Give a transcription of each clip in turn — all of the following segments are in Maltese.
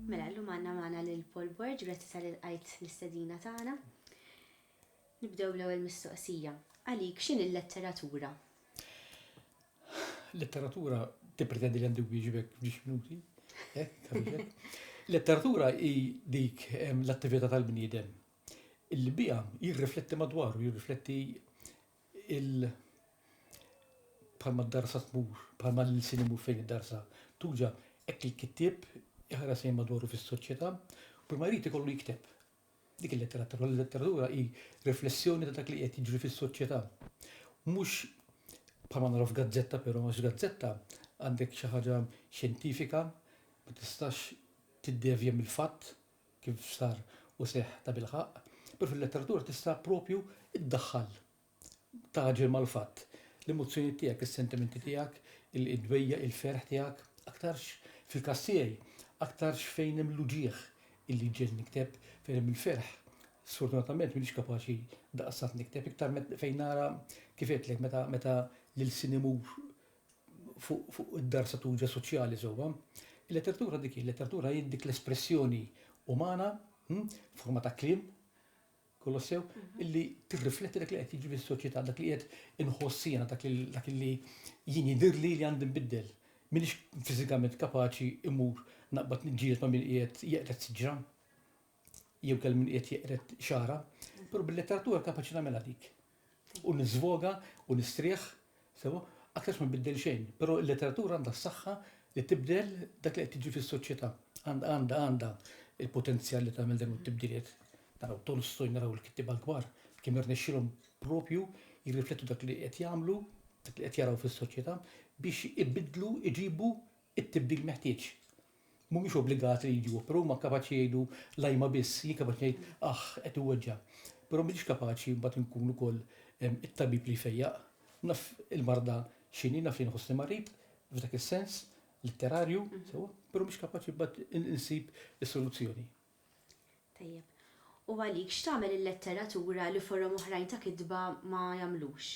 Mela, l-lum għanna maħna l-Paul Borg, grazzi tal-għajt l-istedina taħna. Nibdew l-ewel mistoqsija. Għalik, xin il-letteratura? Letteratura tippretendi li għandu wieġbek f'ġiex minuti. Eh, Letteratura hi dik l-attività tal-bniedem li biha jirrifletti madwaru, jirrifletti il- bħalma d-darsa tmur, bħalma l-sin imur fejn id-darsa, tuġa, ekk il-kittib, iħares lejn madwaru fis-soċjetà, kull ma jrid ikollu jikteb. Dik il-letteratura, l-letteratura hi riflessjoni ta' dak li qed jiġri fis-soċjetà. Mhux bħal ma naraw f'gazzetta però, għax gazzetta għandek xi ħaġa xjentifika, ma tistax tiddevja mill-fatt kif sar u seħħ tabilħaqq, però fil-letteratura tista' propju ddaħħal tagħġel mal-fatt. L-emozzjonijiet tiegħek, is-sentimenti tiegħek, id-dwejjaq, il-ferħ tiegħek, aktarx fil-każ tiegħi, aktarx fejn hemm l-uġigħ illi jġegħelni nikteb, fejn hemm il-ferħ, sfortunatament m'iniex kapaċi daqstant nikteb, iktar fejn nara kif għedtlek meta meta l-ilsien imur fuq id-dar satuġa soċjali sewwa. Il-letteratura dik hi, il-letteratura hi dik l-espressjoni umana, hm, forma ta' kliem, Kolossew, illi tirrifletti dak li qed jiġri fis-soċjetà, dak li qed inħoss jiena, dak li jien jidhirli li għandi nbiddel. M'iniex fiżikament kapaċi mmur naqbad niġġieled ma' min qiegħed jeqred siġra jew kellha min qiegħed jeqred xagħarha, però bil-letteratura kapaċi nagħmilha dik. u niżvoga u nistrieħ, sewwa, aktarx ma nbiddel xejn. Però il-letteratura għandha s-saħħa li tibdel dak li qed jiġri fis-soċjetà. Għandha għandha għandha l-potenzjal li tagħmel dawn it-tibdiliet. Naraw Tolstoy, naraw il-kittieba l-kbar, kemm irnexxielhom proprju jirriflettu dak li qed jagħmlu, dak li qed jaraw fis-soċjetà biex ibiddlu, iġibu t-tibdil meħtieġ. Mhumiex obbligati li jġibu, però huma kapaċi jgħidu l-ajma biss. Jien kapaċi ngħid, aħ, qed iweġġa'. Però m'iniex kapaċi mbagħad inkun ukoll it-tabib li jfejjaq. Naf il-marda x'inhi, naf li nħossni marid, f'dak is-sens, litterarju, sewwa, però m'iniex kapaċi mbagħad insib is-soluzzjoni. Tajjeb. U għalik, x'tagħmel il-letteratura li forom oħrajn ta' kitba ma jagħmlux?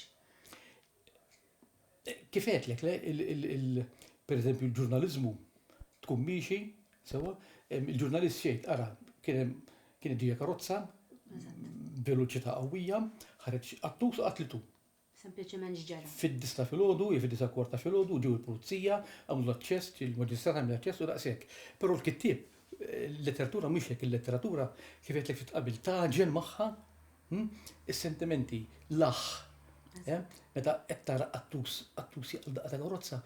Kif għedtlek, pereżempju l-ġurnaliżmu tkun miexi, sewwa, il-ġurnalist xejn, ara, kien ġejja karozza, veloċità qawwija, ħareġ qattus u qatlitu. Sempliċement x'ġara? Fid-disgħa filgħodu, jew fid-disgħa kwarta filgħodu, ġew il-pulizija, għamlu l-aċċess, il-maġistrat għamel l-aċċess u daqshekk. Però l-kittieb, il-letteratura mhix hekk, il-letteratura kif għedtlek ftit qabel tagħġen magħha hm, is-sentimenti, l-aħħ. Eh? Meta qed tara qattus, qattus jaqal daqqa tal-karozza,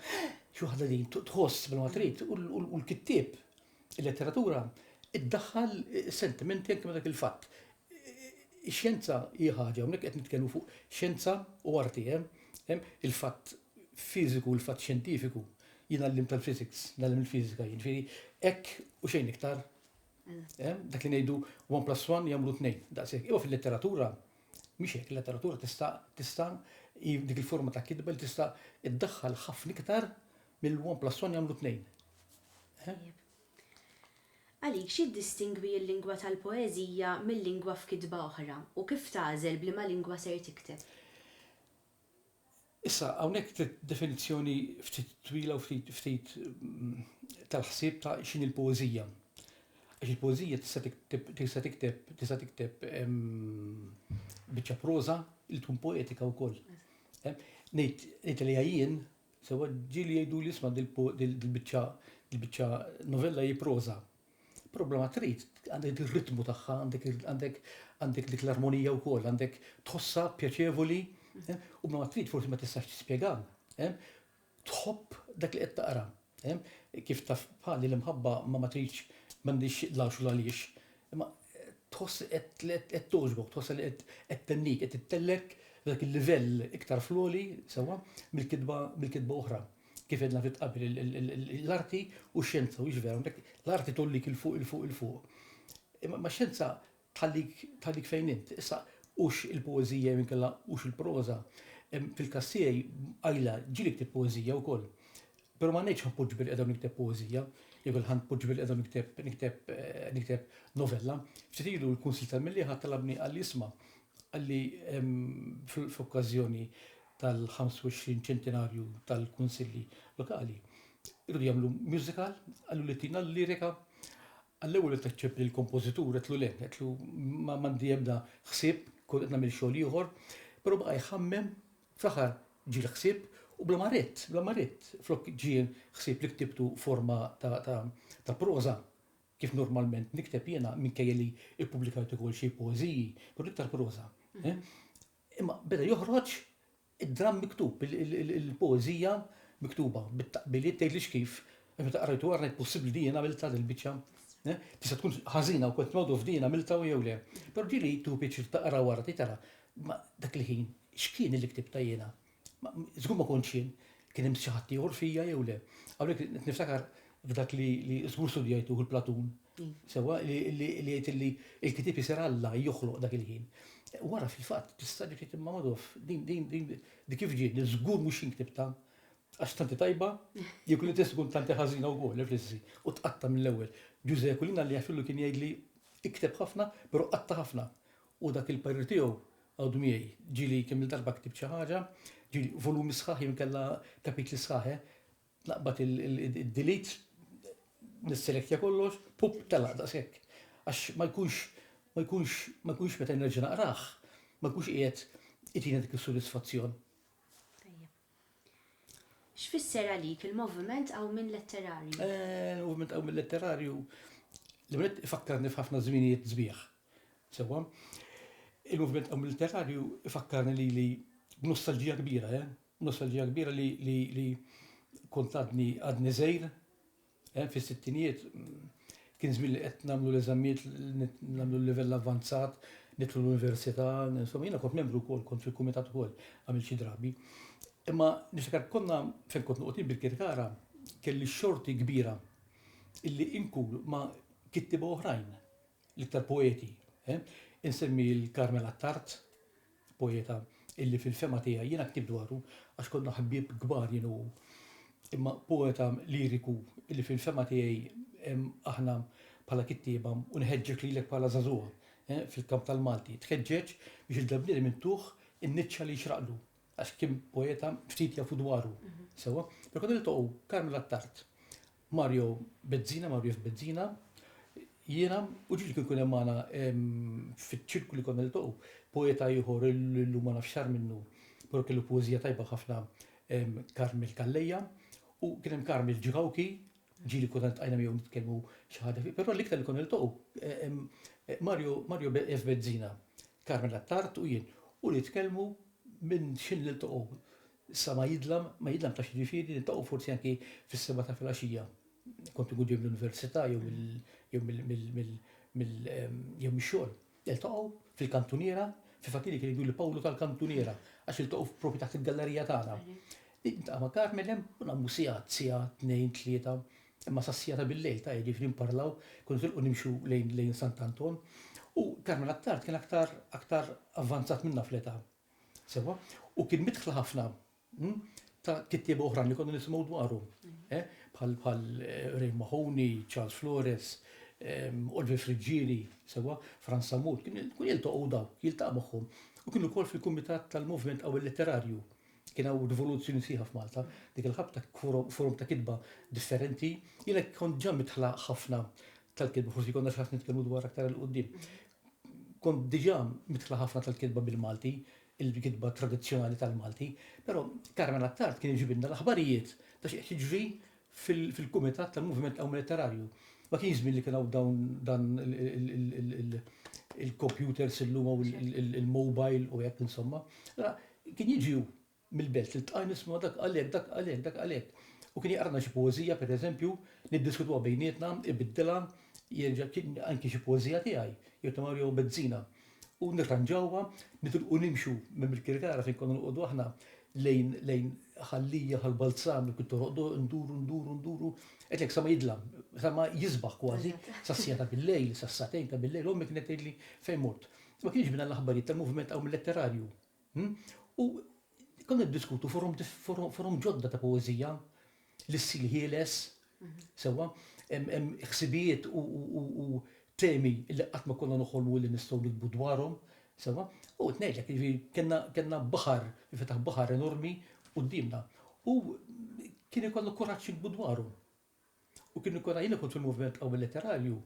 xi waħda din tħoss bla ma trid u l-kittieb Il-letteratura ddaħħal sentimenti anke ma' dak il-fatt. Ix-xjenza hi ħaġa, hawnhekk qed nitkellmu fuq xjenza u arti, eh? Il-fatt fiżiku, il-fatt xjentifiku, jien għallimt tal-physics, ngħallem il-fiżika jien, ġifieri hekk u xejn iktar. Dak li ngħidu 1 plus 1 jagħmlu tnejn, daqshekk. Imma fil-letteratura mhix hekk, il-letteratura tista' tista' dik il-forma ta' kitba li tista' ddaħħal ħafna iktar Mill one plus one jagħmlu tnejn. Tajjeb. Għalik, x'jiddistingwi l-lingwa tal-poeżija mil-lingwa f'kitba oħra, u kif tagħżel b'liema lingwa ser tikteb? Issa, hawnhekk trid definizzjoni ftit twila u ftit tal-ħsieb ta' x'inhi l-poeżija. Għax il-poeżija tista' tikteb, tista' tikteb, tista' tikteb biċċa proża li tkun poetika wkoll. Ngħid, ngħidilha jien, Sewwa ġieli jgħiduli isma' dil-biċċa dil-biċċa novella hi proża. Problema trid, għandek ir-ritmu tagħha, għandek għandek għandek dik l-armonija wkoll, għandek tħossha pjaċevoli, eh, u ma trid forsi ma tistax tispjega. Eh, tħobb dak li qed taqra. Eh, kif taf bħali l-imħabba ma ma tridx m'għandix lax u għaliex, Imma tħoss li qed qed togħġbok, tħossha li qed qed tennik, qed ittellek dak il-livell iktar fl-għoli, sewwa, mill-kitba mill-kitba oħra. Kif għedna ftit qabel il- il- il- il- l-arti u x-xjenza, u vera, għandek l-arti tollik il fuq il fuq il fuq. Imma imma x-xjenza tħallik tħallik fejn int. Issa hux il-poeżija jew inkella hux il-proża. Em, Fil-każ tiegħi, qajla, ġieli ktibt poeżija wkoll. Pero ma ngħidx ħanpoġġi billi qiegħda u nikteb poeżija, jew billi ħanpoġġi billi qiegħda u nikteb nikteb nikteb novella. Ftit ilu l-Kunsill tal-Millieħa talabni qalli isma' qalli f'okkażjoni tal-25 ċentenarju tal-Kunsilli Lokali irridu jagħmlu musical, qallu li tina l-lirika għall-ewwel li taċċepp li l-kompożitur qedtlu le, qedtlu ma m'għandi ebda ħsieb, kont qed nagħmel xogħol ieħor, pero baqa' jħammem Fl-aħħar ġie l-ħsieb u bla ma ridt, bla ma ridt, flok ġie l-ħsieb li ktibtu f'forma ta' proża, kif normalment nikteb jiena, minkejja li ppubblikajt ukoll xi poeżiji, però l-iktar proża. Imma beda joħroġ id-dramm miktub, il-poeżija miktuba, bit-taqbiliet tgħidlix kif, għax meta qrajtu ara jekk possibbli li jien għamiltha dil-biċċa. Tista' tkun ħażina u kont noqgħod nofdiha jien għamiltha jew le. Però ġieli tu pjaċir taqra wara tgħid ara, Ma dak il-ħin, x'kien illi ktibt ta' jiena? Ma żgur ma kontx jien, kien hemm xi ħadd ieħor fija jew le? Hawnhekk qed niftakar f'dak li żgur studjajtuh il-Platun, sewwa, li jgħid illi l-ktieb isir Alla joħloq dak il-ħin. Wara fil-fatt tista' ġiet tgħid imma Madoff, din, din, din, din kif ġiet? Din żgur mhux jien ktibtha, għax tant hi tajba, jew kienet tista' tkun tant hi ħażina wkoll, ifrissi, u tqatta' mill-ewwel. Ġużè Aquilina Alla jagħfirlu kien jgħidli, ikteb ħafna, però qatta' ħafna. U dak il-parir tiegħu għadu miegħi. Ġieli kemm-il darba ktibt xi ħaġa, ġieli volumi sħaħ jew inkella kapitli sħaħ, eh. Naqbad il-delete, nisselektja kollox, pupp, telaq daqshekk. Għax ma jkunx, ma jkunx, ma jkunx meta nerġa' naqrah, ma jkunx qiegħed itina dik is-sodisfazzjon. Tajjeb. X'fisser għalik il-moviment qawmien letterarju? Eh, il-moviment qawmien letterarju, l-ewwel nett ifakkarni f'ħafna żminijiet sbieħ. Sewwa. Il-moviment qawmi litterarju ifakkarni lili b'nostalġija kbira, eh, b'nostalġija kbira li, li, li kont għadni, għadni żgħir, eh, fis-sittinijiet, kien żmien li qed nagħmlu l-eżamijiet, nagħmlu l-livell avvanzat, nidħlu l-università, insomma jiena kont membru wkoll, kont fil-kumitat ukoll għamil xi drabi. Imma niftakar konna fejn kont noqgħod bil-kirkara kelli xorti kbira illi inkul ma kittiba oħrajn l-iktar poeti, eh? Insemmi l-Carmel Attard, poeta illi fil-fema tiegħi jiena ktib dwaru għax konna ħbieb kbar jien u imma poeta liriku illi fil-fema tiegħi aħna bħala kittieba u nħeġġek lilek bħala żagħżugħa eh, fil-kamp tal-Malti, tħeġġeġ biex il-dabnieri minn tuħ in-niċċa li xraqlu għax kien poeta ftit jafu dwaru. Mhm. Sewa, pero konna niltaqgħu Carmel Attard Mario Bezzina, Marius Bezzina, jiena, u ġieli kien ikun hemm magħna fiċ-ċirku li konna niltaqgħu, poeta ieħor li llum ma nafx sar minnu, però kellu poeżija tajba ħafna, Carmel Calleja, u kien hemm Carmel Ġrauki, ġieli konna ltqajna miegħu nitkellmu xi ħaġa fi, però l-iktar li konna niltaqgħu, Mario, Mario F. Bezzina, Carmel Attard u jien, u nitkellmu minn x'ħin niltaqgħu, Sa ma jidlam, ma jidlam taf x'jiġifieri, niltaqgħu forsi anki fis-sebgħa ta' filgħaxija. Kont inkun ġej mill-università jew mix-xogħol. Niltaqgħu fil-kantuniera, fil-fatt ili kien jgħiduli Pawlu tal-kantuniera għax iltaqgħu propju taħt il-gallerija tagħna. Niltaqa' ma' Carmen hemm u nagħmlu sigħat, siegħa, tnejn, tlieta, imma sas-siegħa ta' billejl ta' jiġifieri nparlaw, konna nitilqu nimxu lejn Sant'Anton. U Carmen għat-tard kien aktar, aktar avvanzat minnha fl-età. Sewa, u kien mitħla ħafna hm, ta' kittieba oħrajn li konna nisimgħu dwarhom. Eh, bħal bħal eh, Ray Mahoney, Charles Flores, ehm, Oliver Friggieri, sewa, Franz Samut, kien kun jiltaqgħu daw, jiltaqgħu magħhom. U kienu wkoll fil-Kumitat tal-Moviment Qawwi Letterarju. Kien hawn rivoluzzjoni sieħa f'Malta, dik il-ħabta forum ta' kitba differenti, jiena kont ġa mitħla ħafna tal-kitba, forsi konna xi ħadd nitkellmu dwar aktar il-qudiem. Kont diġà midħla ħafna tal-kitba bil-Malti, il-kitba tradizzjonali tal-Malti, però Carmen Attard kien iġibilna l-aħbarijiet ta' xi qed jiġri fil-kumitat tal-Moviment Qawmni Letterarju. Ma kienx żmien li kien hawn dawn dan il-kompjuters illum u l-mobile u hekk insomma. Allura kien jiġi hu. mill-belt li ltqajna nisimgħu dak qal hekk, dak qal hekk, dak qal hekk. U kien jaqralna xi poeżija pereżempju, niddiskutuha bejnietna, ibiddilha, jerġa' kien anki xi poeżija tiegħi jew ta' Mario Bezzina. U nirranġawha, nitilqu nimxu minn Birkirkara fejn konna noqogħdu aħna lejn lejn Ħal Lija, Ħal Balzan, kien toroqdu, nduru, nduru, nduru, għedtlek sa ma jidlam, sa ma jisbaħ kważi, sas-siegħa ta' bil-lejl, sas-sagħtejn ta' bil-lejl, ommi kienet tgħidli fejn mort. Ma kienx bina l-aħbarijiet tal-moviment qawmil letterarju. U konna niddiskutu forom ġodda ta' poeżija li ssir ħieles, sewwa, ħsibijiet u temi li qatt ma konna noħolmu li nistgħu nikbu dwarhom, sewwa. U qed ngħidlek, jiġifieri kellna baħar, infetaħ baħar enormi quddiemna. U kien ikollna kuraġġ nikbu dwarhom. U kien ikun għajni kont fil-moviment qawwi letterarju,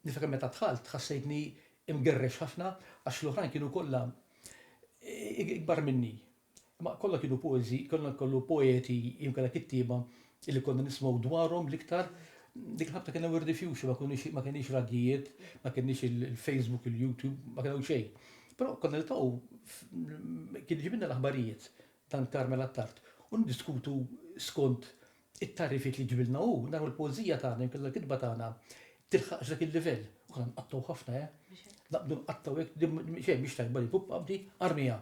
niftakar meta dħalt ħassejtni imgerrex ħafna għax l-oħrajn kienu kollha ikbar minni. Imma kollha kienu poeżi, kollha kollu poeti jew inkella kittieba li konna nisimgħu dwarhom l-iktar dik il-ħabta kien hemm Wirdi Fjuxi ma kunux ma kenniex radjijiet, ma kenniex il-Facebook, il-YouTube, ma kien hawn xejn. Però konna niltaqgħu kien iġibilna l-aħbarijiet dan Carmel Attard u niddiskutu skont it-tagħrifiet li ġibilna hu, naraw il-poeżija tagħna, inkella l-kitba tagħna, tilħaqx dak il-livell. U konna nqattgħu ħafna, eh. Naqbdu nqattgħu hekk, din xejn mhix tajba li kub qabdi, armiha.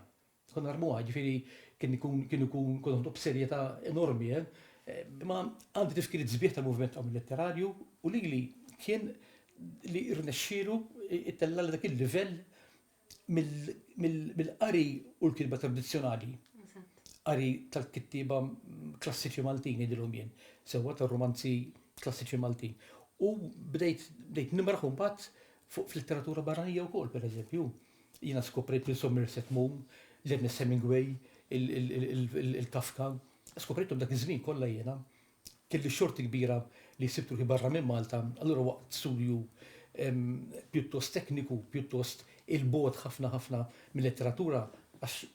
Konna narmuha, jiġifieri kien ikun kien ikun konna noħdu b'serjetà enormi, eh. Imma għandi tifkiriet sbieħ tal-moviment qabel letterarju u lili kien li rnexxielu itellgħali dak il-livell mill-qari u l-kitba tradizzjonali. Qari tal-kittiba klassiċi Maltin jidilhom jien, sewwa tar-romanzi klassiċi Maltin. U bdejt bdejt nimraħ imbagħad fuq fl-letteratura barranija wkoll, pereżempju. Jiena skoprejt lil Somerset Maugham, l-Ernest Hemingway, il-Kafka. Skoprejthom dak iż-żmien kollha jiena. Kelli x-xorti kbira li sibt ruħi barra minn Malta, allura waqt studju pjuttost tekniku, pjuttost 'il bogħod ħafna ħafna mil-letteratura, għax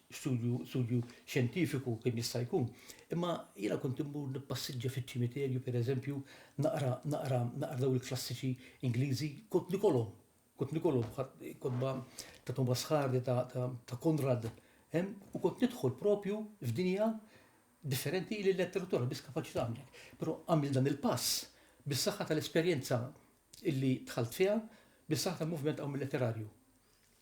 studju xjentifiku kemm jista' jkun, imma jiena kont immur nippassiġġa fiċ-ċimiterju, per eżempju, naqra, naqra, naqra dawn il-klassiċi Ingliżi, kont nikolhom, kont nikolhom, kotba ta' Thomas Hardy, ta' Conrad, u kont nidħol proprju f'dinja differenti hi li l-lettera turi biss kapaċi tagħmel hekk. Però għamilt dan il-pass bis-saħħa tal-esperjenza illi dħalt fiha, bis-saħħa tal-moviment hawn mill-letterarju.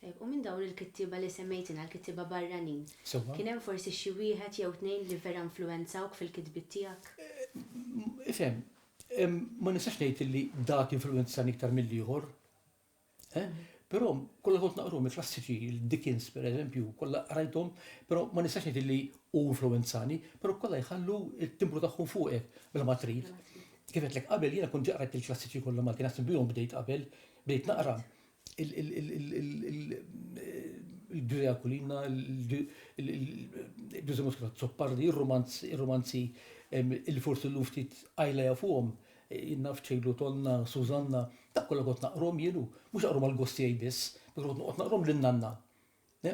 Tajjeb, u minn dawn il-kittieba li semmejt inha, l-kittieba barranin, Sewwa. kien hemm forsi xi wieħed jew tnejn li vera influwenzawk fil-kitbiet tiegħek? Ifhem, ma nistax ngħid illi dak influwenzani iktar mill-ieħor. Però kollha kont naqruhom il-klassiċi, il-Dickens pereżempju, kollha qrajthom, però ma nistax ngħid li hu influwenzani, però kollha jħallu t-timbru tagħhom fuqek bla ma trid. Kif għedtlek qabel, jiena kont ġa qrajt il-klassiċi kollha Malti, naħseb bihom bdejt qabel, bdejt naqra il-Ġużè Aquilina, il-Ġużè Muscat Azzopardi, ir-rumanzi li forsi llum ftit qajla jafuhom, Jien naf ċejlu tonna, Sużanna, dak kollha kont naqrom jien u mhux naqrom għal gost tiegħi biss, meta kont noqgħod naqrom lil nanna.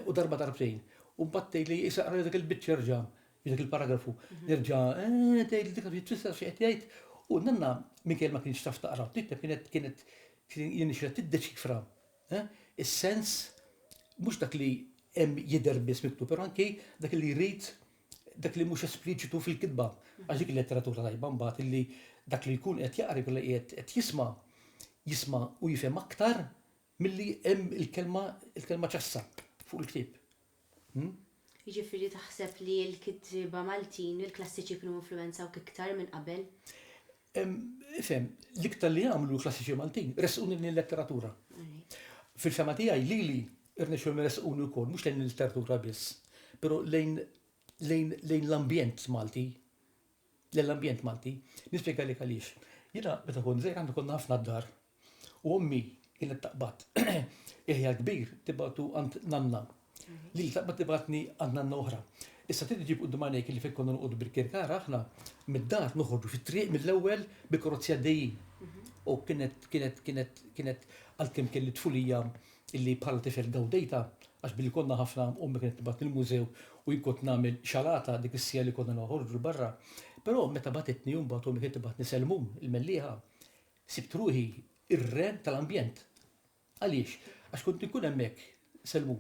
U darba darbtejn. U mbagħad tgħidli issa aqrali dik il-biċċa erġa', jew dik il-paragrafu. Nerġa' eeh tgħidli dik taf xi tfisser xi qed jgħid. U nanna minkejja li ma kinitx taf taqra u tikteb kienet kienet jirnexxilha tiddeċifra is-sens mhux dak li hemm jidher biss miktub, però anki dak li jrid dak li mhux espliċitu fil-kitba, għax dik il-letteratura tajba mbagħad illi dak li jkun qed jaqra jkun qiegħed qed jisma' jisma' u jifhem aktar milli hemm il-kelma il-kelma ċassa fuq il-ktieb. Jiġifieri taħseb li l-kittieba Maltin, il-klassiċi kienu influwenzawk iktar minn qabel? Ifhem, l-iktar li għamlu klassiċi Maltin, resquni lejn il-letteratura. Fil-fema tiegħi lili irnexxu resquni wkoll mhux lejn il-letteratura biss, però lejn lejn l-ambjent Malti. Lejn l-ambjent Malti. Nispjegalek għaliex. Jiena meta kont żgħir għandu konna ħafna d-dar U ommi kienet taqbad il-ħjar kbir tibgħatu għand nanna. Lili taqbad tibgħatni għand nanna oħra. Issa trid iġib quddiem għajnejk illi fejn konna noqogħdu bil-kirkara aħna, mid-dar noħorġu fit-triq mill-ewwel bil-karozzi għaddejjin. U kienet kienet kienet kienet għalkemm kelli tfulija illi bħala tifel gawdejtha, għax billi konna ħafna ommi kienet tibgħatni l-mużew u jien kont nagħmel xalata dik is-siegħa li konna noħorġu 'l barra. Però meta bagħtitni mbagħad ommi kienet tibgħatni Selmun, il-Mellieħa, Sibt ruħi r-re tal-ambjent. Għaliex? Għax kont inkun hemmhekk, Selmu,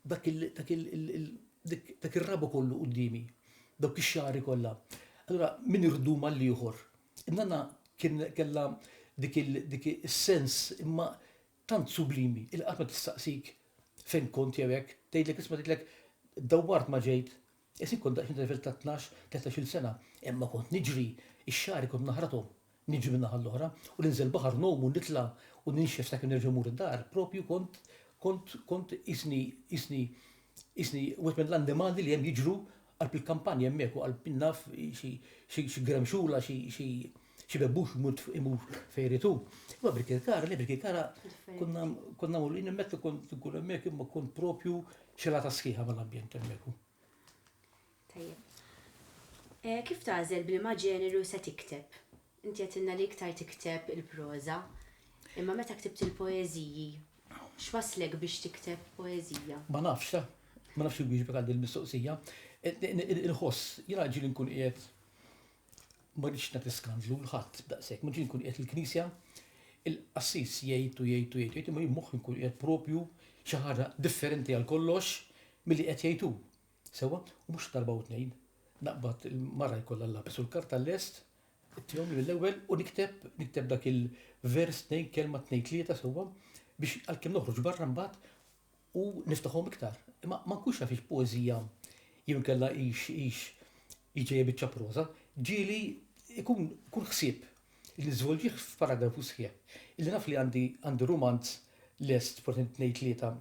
dak il, dak il, il, dik, dak ir-rabu kollu quddiemi, dawk ix-xagħri kollha. Allura min irdum għall-ieħor. In-nanna kien kellha dik il, dik is-sens imma tant sublimi illi qatt ma tistaqsik fejn kont jew hekk, tgħidlek isma' tgħidlek dawwart ma ġejt Isib kont daqsxejn trevelt ta' tnax, tletax-il sena, imma kont niġri, ix-xagħri kont naħrathom, niġri min-naħa l-oħra, u ninżel baħar ngħum u nitla' u ninxef sakemm nerġa' mmur id-dar, proprju kont, kont, kont qisni, qisni, qisni wieħed mill-annimali li hemm jiġru qalb il-kampanja hemmhekk u qalb, naf, xi, xi, xi gremxula, xi, xi. Xi bebbux imut imur fejn irid hu. Imma Birkirkara, le Birkirkara konna konna mur jien meta kont nkun hemmhekk imma kont propju xelata sħiħa mal-ambjent hemmhekk. Tajjeb. Eh, kif tagħżel bliema ġeneru se tikteb? Inti għedtilna li iktar tikteb il-proża, imma meta ktibt il-poeżiji, x'waslek biex tikteb poeżija? Ma nafx, eh? ma nafx il-wieġbek għal din il-mistoqsija. Eh, Inħoss, jiena ġieli nkun qiegħed Ma rridx nagħti skandlu 'l ħadd daqshekk, ma rridx inkun qiegħed fil-Knisja, il-qassis jgħid u jgħid u jgħid u jgħid, imma jien moħħi nkun qiegħed propju xi ħaġa differenti għal kollox milli qed jgħid hu. Sewwa? U mhux darba u tnejn. Naqbad il-mara jkollha l-lapis u l-karta lest, ittihom li mill-ewwel u nikteb, nikteb dak il-vers tnejn kelma tnejn tlieta sewwa biex għalkemm noħroġ barra mbagħad u niftaħhom iktar. Imma ma nkunx naf hix poeżija jew inkella hix hix hi ġejja biċċa proża, ġieli ikun kull ħsieb li niżvolġih f'paragrafu sħiħ. Illi naf li għandi għandi rumanz lest forsi tnejn tlieta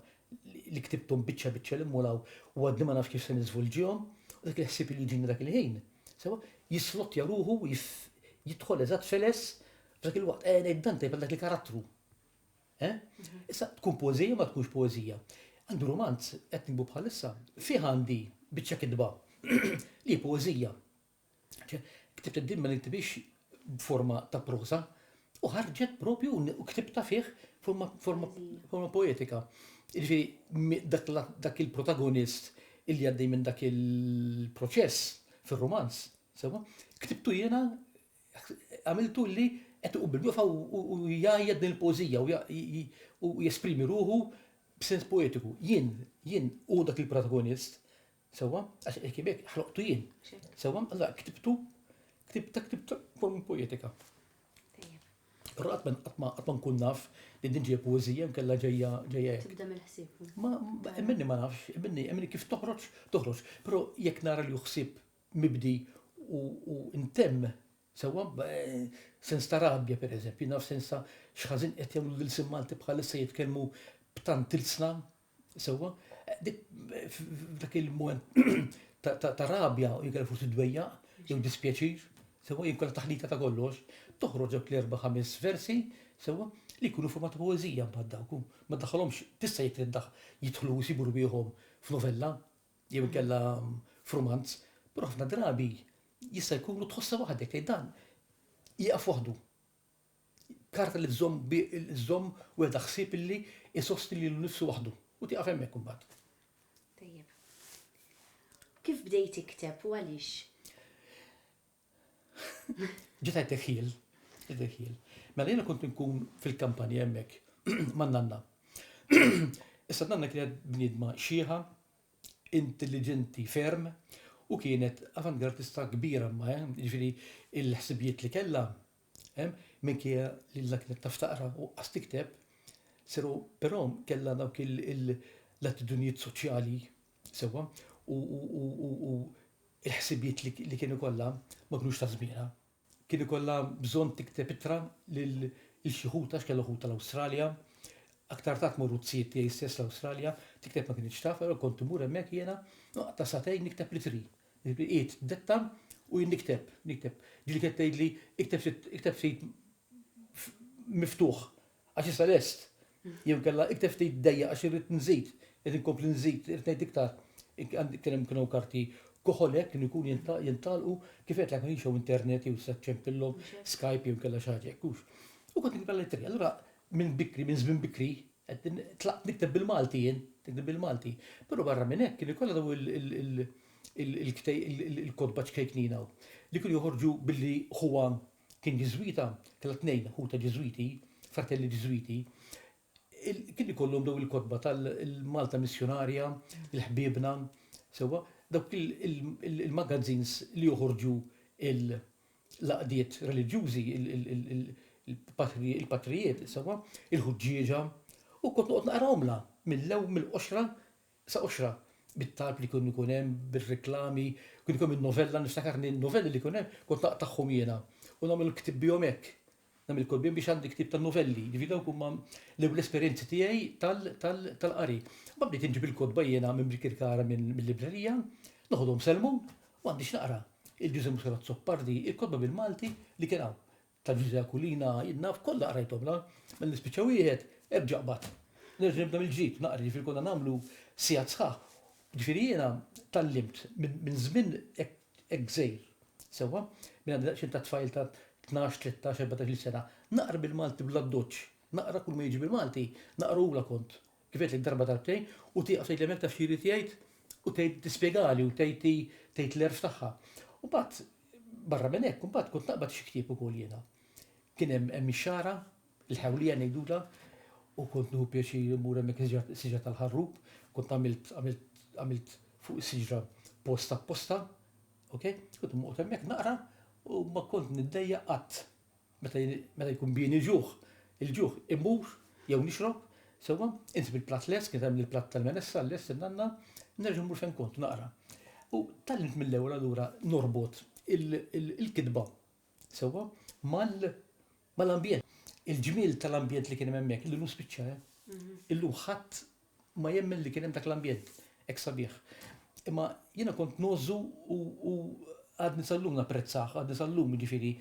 li ktibthom biċċa biċċa 'l hemm u 'l hawn u għadni ma nafx kif se niżvolġihom u dak il-ħsieb li jiġini dak il-ħin, sewwa, jislottja ruħu u jidħol eżatt feles f'dak il-waqt. Eħe ngħid dan tajjeb għal dak il-karattru. Eh? Issa, tkun poezija ma tkunx poezija. Għandu romanz, qed nikbu bħalissa, fih għandi biċċa kitba li poezija. Ktibt id-din ma niktibix b'forma ta' prosa, u ħarġet propju u ktibta fih forma poetika. Ġifieri dak il-protagonist illi għaddej minn dak il-proċess fir-romanz, sewa, ktibtu jiena għamiltu li qed iqum bil-wieqfa u jgħajjat din il-poeżija u jesprimi ruħu b'sens poetiku. Jien, jien hu dak il-protagonist, sewwa, għax hekk jibek, ħloqtu jien. Sewwa, allura ktibtu, ktibta, ktibta formi poetika. Però qatt ma qatt ma nkun naf li din ġejja poeżija nkella ġejja ġejja. Tibda mill-ħsieb. Ma minni ma nafx, minni minni kif toħroġ, toħroġ. Però jekk nara li ħsieb mibdi u ntemm sewwa b'sens ta' rabja pereżempju, naf sens ta' x'ħażin qed jagħmlu lill-ilsien Malti bħalissa jitkellmu b'tant ilsna sewwa. Dik f'dak il-mument ta' rabja u jinkella forsi dwejjaq jew dispjaċir sewwa jew inkella taħlita ta' kollox, toħroġ dawk l-erba' ħames versi sewwa li jkunu forma ta' poeżija mbagħad dawk u ma ddaħħalhomx tista' jekk trid jidħlu jsibu rwieħhom f'novella jew inkella f'rumanz, però ħafna drabi jista' jkun u tħossha waħdek li dan jieqaf waħdu. Karta li tżomm żomm weda ħsieb illi isosti lilu nnifsu waħdu u tieqaf hemmhekk imbagħad. Tajjeb. Kif bdejt tikteb u għaliex? Ġiet għajt Dekhiel, Dekhiel. Mela jiena kont inkun fil-kampanja hemmhekk man-nanna. Issa nanna kienet bniedma xieħa, intelligenti ferm u kienet avantgardista kbira ma eh, ġifieri il-ħsibijiet li kellha eh, minkejja li la kienet taf taqra u qas tikteb, seru però kellha dawk l-attitudnijiet soċjali Sewwa, u l-ħsibijiet li kien ikollha ma kinux ta' żmienha. Kien ikollha bżonn tikteb ittra lil xi ħut għax kellha ħuta l-Awstralja. Aktar tard morru t-tzijiet tiegħi stess l-Awstralja, tikteb ma kinitx taf, allura kont immur hemmhekk jiena, noqgħod ta' sagħtejn nikteb l-ittri. Qiegħed d-detta u jien nikteb, nikteb. Ġieli kienet tgħidli, ikteb ftit miftuħ, Għax issa lest. Jew inkella ikteb ftit dejjaq għax irrid nżid, irrid inkompli nżid, irrid ngħid iktar. Kien hemm kienu karti koħolek kienu jkunu jintagħlqu kif qedlek ma kienx hawn internet jew tista' ċempillhom Skype jew inkella xi ħaġa hekk U kont nikba lettri. Allura minn bikri, minn żmien bikri, tlaqt nikteb bil-Malti jien, nikteb bil-Malti. Però barra minn hekk kien ikollha daw il-kotba ċkejknina li kienu joħorġu billi Juan Kien Ġiżwita, kellha tnejn ħutha Ġiżwiti, fratelli Ġiżwiti. Kien ikollhom dawn il-kotba tal-Malta Missjunarja, il-Ħbiebna, sewwa, dawk il-magazines li joħorġu l-għaqdiet reliġjużi, il-patrijiet, sewwa, il-ħuġġieġa, u kont noqgħod naqrahomlha mill-ewwel mill-qoxra Sa qoxra bit-talb li kien ikun hemm, bir-riklami, kien ikun hemm in-novella, niftakar li n-novelli li jkun hemm kont naqtagħhom jiena u nagħmel il-ktieb bihom hekk. Nagħmel il-ktieb bihom biex għandi ktieb tan-novelli. Jiġifieri dawk huma l-ewwel esperjenzi tiegħi tal-qari. Imbagħad bdejt inġib il-kotba jiena minn Birkirkara mill-librerija, noħodhom Selmun u għandi x'naqra, il-Ġużè Muscat Azzopardi, il-kotba bil-Malti li kien hawn. Ta' Ġużè Aquilina jien naf kollha qrajthomlha, mela nispiċċa wieħed, erġa' qbad. Nerġa' nibda mill-ġdid, naqra, jiġifieri konna nagħmlu sigħat sħaħ. Jiġifieri jiena tgħallimt minn żmien hekk żgħir, sewwa, minn għandi daqsxejn ta' tfajl ta' tnax, tlettax, erbatax-il sena, naqra bil-Malti bl-addoċċ, naqra kull ma jiġi bil-Malti, naqrahulha kont Kif għedtlek darba darbtejn u tieqaf tgħidli hemmhekk taf x'irid jgħid u tgħid tispjegali u tgħid hi tgħid l-għerf tagħha. U mbagħad barra minn hekk imbagħad kont naqbad xi ktieb ukoll jiena. Kien hemm hemm ix-xagħra, il-ħewlija ngħidulha, u kont nieħu pjaċir immur hemmhekk is-siġra tal-ħarrub, kont għamilt għamilt għamilt fuq is-siġra post apposta, ok, kont noqgħod hemmhekk naqra u ma kont niddejjaq qatt. Meta jien, meta jkun bieni ġuħ, il-ġuħ, immur, jew nixrob, sewwa, insib il-platt lest, kienet tagħmel il-platt tal-menessa lest in-nanna, nerġa' mmur fejn kont naqra. U tgħallimt mill-ewwel allura norbot il-kitba, sewwa, mal-ambjent. Il-ġmiel tal-ambjent li kien hemm hemmhekk illum spiċċa, eh. Illum ħadd ma jemmen li kien hemm dak l-ambjent hekk sabiħ. Imma jiena kont ngħożżu u għadni sal-lum napprezzah, għadni sal-lum jiġifieri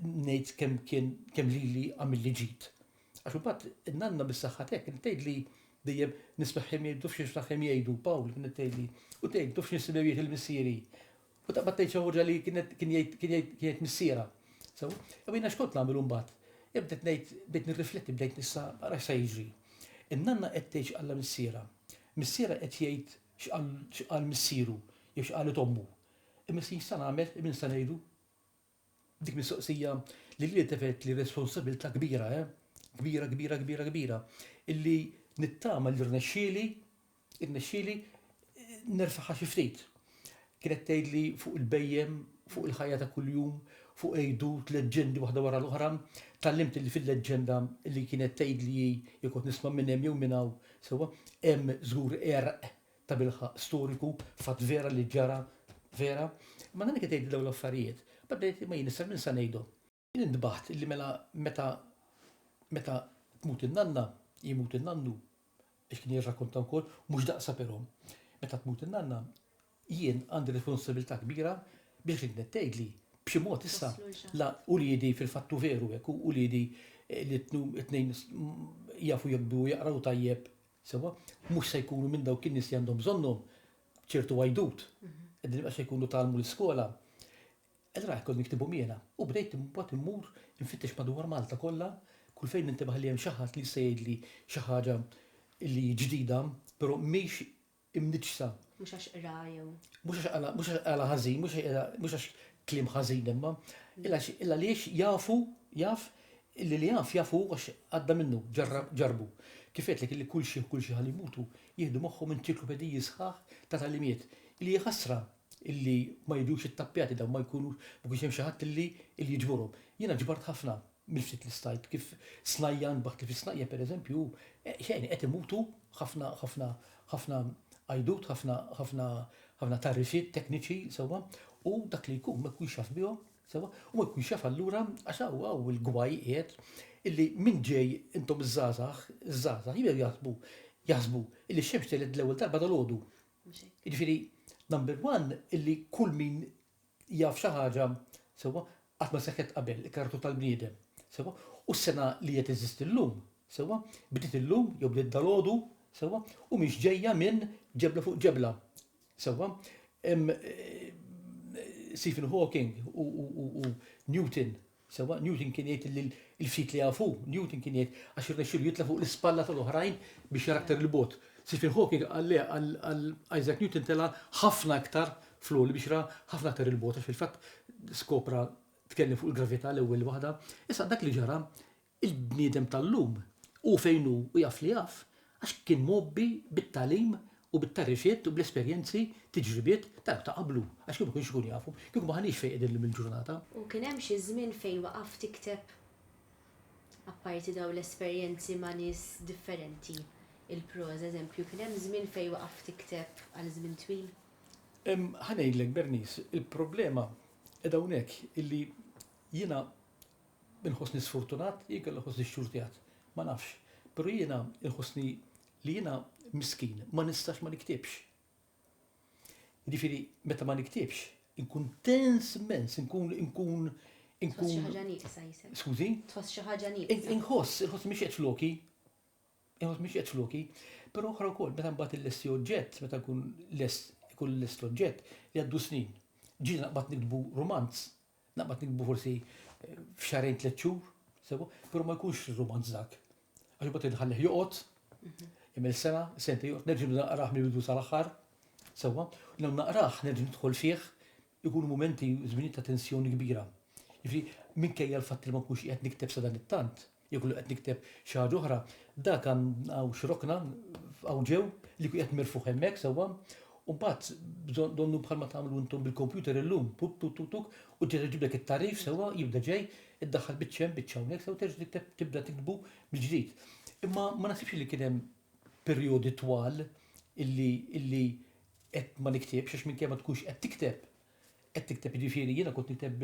ngħid kemm kien kemm lili għamilli ġid. Għax imbagħad in-nanna bis-saħħa tiegħek kienet tgħidli dejjem nismagħhom jgħidu tafx x'niftaħhom jgħidu, Pawl kienet tgħidli, u tgħid tafx nisimgħu jgħid il-missieri. U taqbad tgħid xi ħaġa li kienet kien jgħid kien jgħid kien jgħid missierha. Sew, u jiena x'kont nagħmel imbagħad? Ibdet ngħid bdejt nirrifletti bdejt nissa ara se jiġri. In-nanna qed tgħid x'qalha missierha. Missierha qed jgħid x'qal x'qal missieru jew x'qalet ommu. Imma issa x'se nagħmel, min se ngħidu? Dik mistoqsija li lili tefgħet li responsabilità kbira, eh? Kbira, kbira, kbira, kbira, illi nittama li rnexxieli, irnexxieli nerfagħha xi ftit. Kienet tgħidli fuq il-bhejjem, fuq il-ħajja ta' kuljum, fuq għidut, leġġendi waħda wara l-oħra, tgħallimt li fil-leġġenda li kienet tgħidli hi jekk kont nisma' minn hemm jew minn hawn, sewwa, hemm żgur għerq tabilħaqq storiku, fatt vera li ġara vera. Ma nagħmilx qed ngħidli dawn l-affarijiet. Bad ngħid imma jien issa min sa ngħidhom? Jien intbaħt illi mela meta meta tmut in-nanna, jmut in-nannu, għax kien jirrakkonta wkoll, mhux daqshha però. Meta tmut in-nanna, jien għandi responsabilità kbira biex dik li qed tgħidli b'xi mod issa la uliedi fil-fatt hu veru hekk, uliedi li t-tnejn jafu jokbu u jaqraw tajjeb, Sewwa, mhux se jkunu minn dawk in-nies li għandhom bżonnhom ċertu għajdut. Qegħdin ibqas se jkunu tgħallmu l-iskola. Allura hekk kont niktibhom jiena. U bdejt imbagħad immur infittex madwar Malta kollha, kull fejn nintebaħ li hemm xi ħadd li jista' jgħidli xi ħaġa li ġdida, però mhix imniġġsa. Mhux għax qra jew. Mhux għax qala, mhux għax qala ħażin, mhux għax qra, mhux għax kliem ħażin imma, illa għax- illa għaliex jafu, jaf, illi li jaf, jaf hu għax għadda minnu, ġarra, ġarrbu. Kif għedtlek illi kull xi, kull xi ħalli jmutu, jieħdu magħhom enċiklopediji sħaħ ta' tagħlimiet, illi hija ħasra illi ma jiġux ittappjati dawn, ma jkunux, ma jkunx hemm xi ħadd illi, illi jiġborhom. Jiena ġbart ħafna. mill-ftit li stajt, kif snajjan b'hekk kif isnajja pereżempju hu, xejn, qed imutu ħafna ħafna ħafna għajdut, ħafna ħafna ħafna tagħrifiet tekniċi, sewwa, u dak li jkun ma jkunx jaf bihom, sewwa, u ma jkunx jaf allura għax hawn hawn il-gwaj qiegħed illi min ġej intom iż-żgħażagħ, iż-żgħażagħ jibdew jaħsbu jaħsbu illi x-xemx telgħet l-ewwel darba dalgħodu. Jiġifieri number one illi kull min jaf xi ħaġa, sewwa, qatt ma seħħet qabel, il-karattru tal-bniedem, sewwa, u s-sengħa li qed teżisti llum, sewwa, bdiet illum jew bdiet dalgħodu, sewwa, u mhix ġejja minn ġebla fuq ġebla, sewwa. Stephen Hawking u Newton, Sewwa Newton kien jgħid li l-ftit li jafu, Newton kien jgħid għax irnexxielu jitla' fuq l-ispalla tal-oħrajn biex jara aktar 'il bogħod. Stephen Hawking qal le għal Isaac Newton tela' ħafna aktar fl-għoli biex ra ħafna aktar 'il bogħod għax fil-fatt skopra tkellem fuq il-gravità l-ewwel waħda. Issa dak li ġara Il-bniedem tal-lum hu fejn hu u jaf li jaf għax kien mgħobbi bit-tagħlim u bit-tagħrifiet u bl-esperjenzi, tiġribiet, ta' dawk ta' qablu, għax kieku ma kienx ikun jafhom, kieku m'aħniex fejn qegħdin illum il-ġurnata. U kien hemm xi żmien fejn waqaft tikteb? Apparti dawn l-esperjenzi ma' nies differenti, il-proża, eżempju, kien hemm żmien fejn waqaft tikteb għal żmien twil? Ħa ngħidlek, Bernice, il-problema qiegħda hawnhekk illi jiena Inħossni sfortunat, jien kelli nħossni xxurtjat. Ma nafx. Pero jiena inħossni li jiena miskin, ma nistax ma niktibx. Jiġifieri meta ma niktibx, inkun tens immens, inkun inkun inkun. Tħoss xi ħaġa nieqsa jisek. Skużi? Tħoss xi ħaġa nieqsa. Inħoss, inħoss mhix qed floki. Inħoss mhix qed floki. Però oħra wkoll meta mbagħad illesti oġġett, meta nkun lest ikun lest l-oġġett, jgħaddu snin. Ġieli naqbad nikdbu rumanz, Naqbad niktbu forsi f'xahrejn tliet xhur, sewa, però ma jkunx rumanz dak. Għax imbagħad irid inħallih joqgħod, jagħmel sena, sentejn joqgħod, nerġa' nibda naqrah mill-bidu sal-aħħar, sewwa, u jew naqrah, nerġa' nidħol fih, ikunu mumenti, żminijiet ta' tensjoni kbira. Jiġifieri, minkejja l-fatt li ma nkunx qiegħed nikteb sadanittant, Jekk inkun qed nikteb xi ħaġa oħra, dak hawn xi rokna hawn ġew li jkun qiegħed mirfugħ hemmhekk sewwa, u mbagħad donnu bħalma tagħmlu intom bil-kompjuter illum, puk tuk tuk tuk, u terġa' jġiblek it-tagħrif sewwa, jibda ġej, iddaħħal biċċa hemm, biċċa hawnhekk sewwa terġa' tikteb tibda tiktbu mill-ġdid. Imma ma naħsibx li kien hemm perjodi twal illi qed ma niktibx għax minkejja ma tkunx qed tikteb Qed tikteb jiġifieri jiena kont nikteb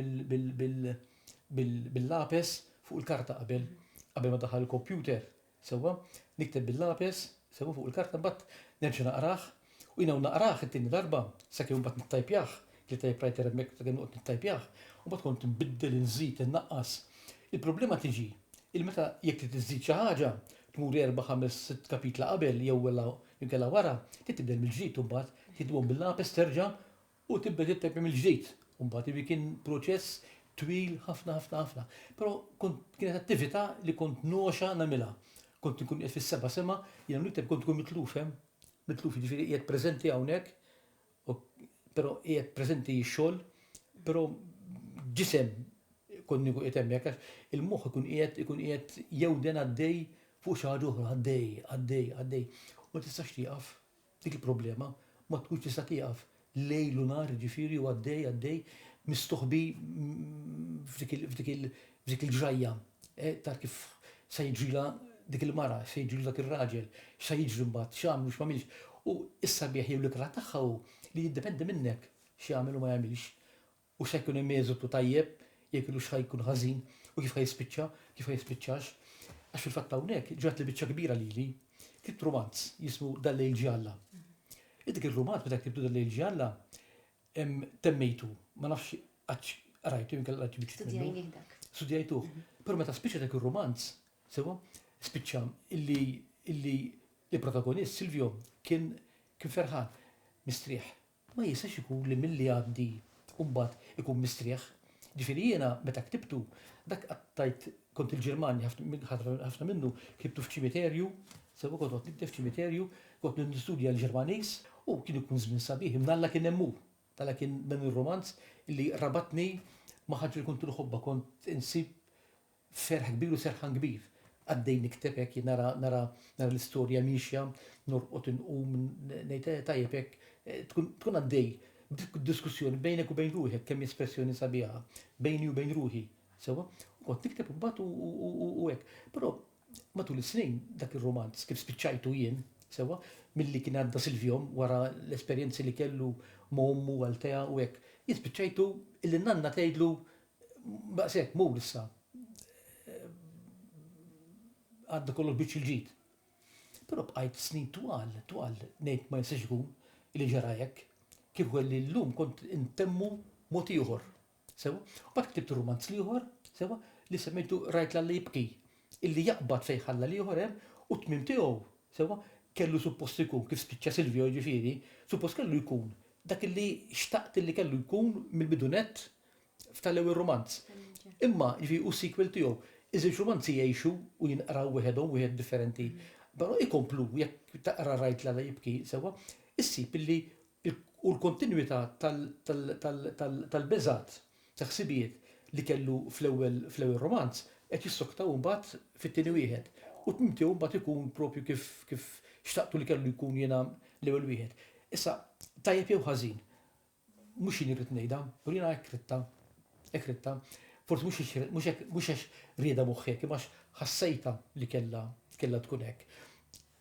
bil-lapes fuq il-karta qabel, qabel ma daħal il-kompjuter, sewwa? Nikteb bil-lapes, sewwa fuq il-karta mbagħad nerġa' naqrah, u jiena u naqrah it-tieni darba, sakemm imbagħad nittajpjah, kelli typewriter hemmhekk sakemm noqgħod nittajpjah, u mbagħad kont inbiddel, inżid, innaqqas. Il-problema tiġi li meta jekk trid iżżid xi ħaġa, tmur erba', ħames, sitt kapitla qabel jew inkella wara, trid tibda mill-ġdid u mbagħad tiktibhom bil-lapes terġa' U tibda titteppja mill-ġdid. U mbagħad ivi kien proċess twil ħafna ħafna ħafna. Però kont kienet attività li kont ngħoxha nagħmilha. Kont inkun qiegħed fis-seba' sema, jiena nikteb kont inkun mitluf hemm, mitluf jiġifieri qiegħed preżenti hawnhekk, però qiegħed preżenti x-xogħol, però ġisem kont nieku qiegħed hemmhekk għax il-moħħ ikun qiegħed ikun qiegħed jewden għaddej fuq xi ħaġa oħra, għaddej, għaddej, għaddej. U ma tistax tieqaf. Dik il-problema ma tkunx tista' tieqaf lejl u nhar, jiġifieri hu għaddej, għaddej, mistoħbi f'dik il-ġrajja ta' kif se jiġrilha dik il-mara, x'se jiġrilu dak ir-raġel, x'se jiġri mbagħad, x'għamel u x'm'għamilx. U s-sabiħ jew l-ikrah tagħha hu li jiddependi minnek x'jagħmel u ma jagħmilx. u x'ħa jkun hemm eżotu tajjeb jew inkella x'ħa jkun ħażin u kif ħa jispiċċa, kif ħa jispiċċax. Għax fil-fatt hawnhekk ġrat li biċċa kbira lili. Ktibt rumanz jismu Dal-lejl ġie Alla. Int dik ir-rumanz meta ktibtu Dal-lejl ġie Alla, temmejtu, ma nafx għadx qrajtu jew inkella qrajt xi biċċiet minnu. Studjajnih dak. Studjajtuh. Però meta spiċċa dak ir-rumanz, sewwa, spiċċa illi illi il-protagonist, Silvio, kien kien ferħan, mistrieħ, ma jistax ikun li milli jgħaddi u mbagħad ikun mistrieħ. Ġifieri jiena meta ktibtu, dak qattajt, kont il-Ġirmanja ħafna ħafna minnu ktibtu f'ċimiterju, sew kont noqgħod nikteb f'ċimiterju, kont nistudja l-Ġermaniż u kien ikun żmien sabiħ, imma Alla kien hemm hu. Alla kien dan ir-rumanz li rabatni ma' ħaġa li kont inħobbha, kont insib Ferħ kbir u serħan kbir. Għaddej nikteb hekk jien nara nara nara l-istorja miexja, norqod inqum ngħid eh tajjeb hekk tkun tkun għaddej b'diskussjoni bejnek u bejn ruħek kemm hi espressjoni sabiħa bejni u bejn ruħi sewwa u kont nikteb imbagħad u hekk. Però matul is-snin dak ir-rumanz kif spiċċajtu jien sewwa milli kien għadda Silvio wara l-esperjenzi li kellu ma' ommu Althea u hekk jien spiċċajtu illi n-nanna tgħidlu Daqshekk, mur issa għadda kollox biċċ il-ġid. Però bqajt snin twal, twal, ngħid ma jistax ikun li ġara hekk. Kieku kelli llum kont intemmu mod ieħor. Sewa, u bat ktibt rumanz l-ieħor, sewa, li semmejtu rajt l-alla jibki, illi jaqbad fejn ħalla l-ieħor hemm u t-tmiem tiegħu, sewa, kellu suppost ikun, kif spiċċa Silvio jiġifieri, suppost kellu jkun dak illi xtaqt illi kellu jkun mill-bidunett, f'tal-ewwel rumanz. Imma, jiġifieri hu s-sequel tiegħu. Iż-żewġ rumanzi jgħixu u jinqraw wieħedhom wieħed differenti. Però ikomplu, jekk taqra Rajt Lala Jibki sewwa, issib illi hu l-kontinwità tal-beżgħat, ta' ħsibijiet li kellu fl-ewwel rumanz qed jissoktaw imbagħad fit-tieni wieħed. U t-tmiem tiegħu mbagħad ikun propju kif xtaqtu li kellu jkun jiena l-ewwel wieħed. Issa, tajjeb jew ħażin, Mhux jien irrid ngħidha, u jiena hekk ridtha. Hekk ridtha. Forsi mhux għax ridtha, mhux hekk, mhux għax riedha moħħi hekk, imma għax ħassejtha li kellha, kellha tkun hekk.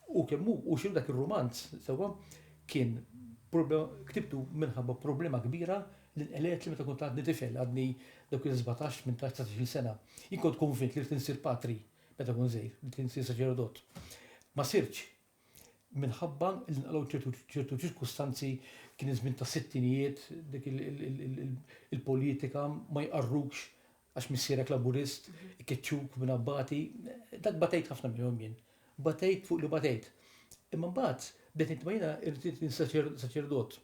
Hu kemm hu, hu x'inhu dak ir-rumanz, sewwa, kien prob, ktibtu minħabba problema kbira li nqelegħtli meta kont għadni tifel, għadni dawk il-sbatax, tmintax, dsatax-il sena. Jien kont konvint li ridt insir patri meta kont żgħir, ridt insir saċerdot. Ma sirtx, Minħabba li nqalgħu ċertu ċirkustanzi kien iż-żmien tas-sittinijiet, dik il-politika ma jqarrukx għax missierek Laburist, ikeċċuk minn Abbati, dak batejt ħafna minnhom jien. Batejt fuq li batejt. Imma mbagħad bdejt ngħid ma jiena rrid saċerdot,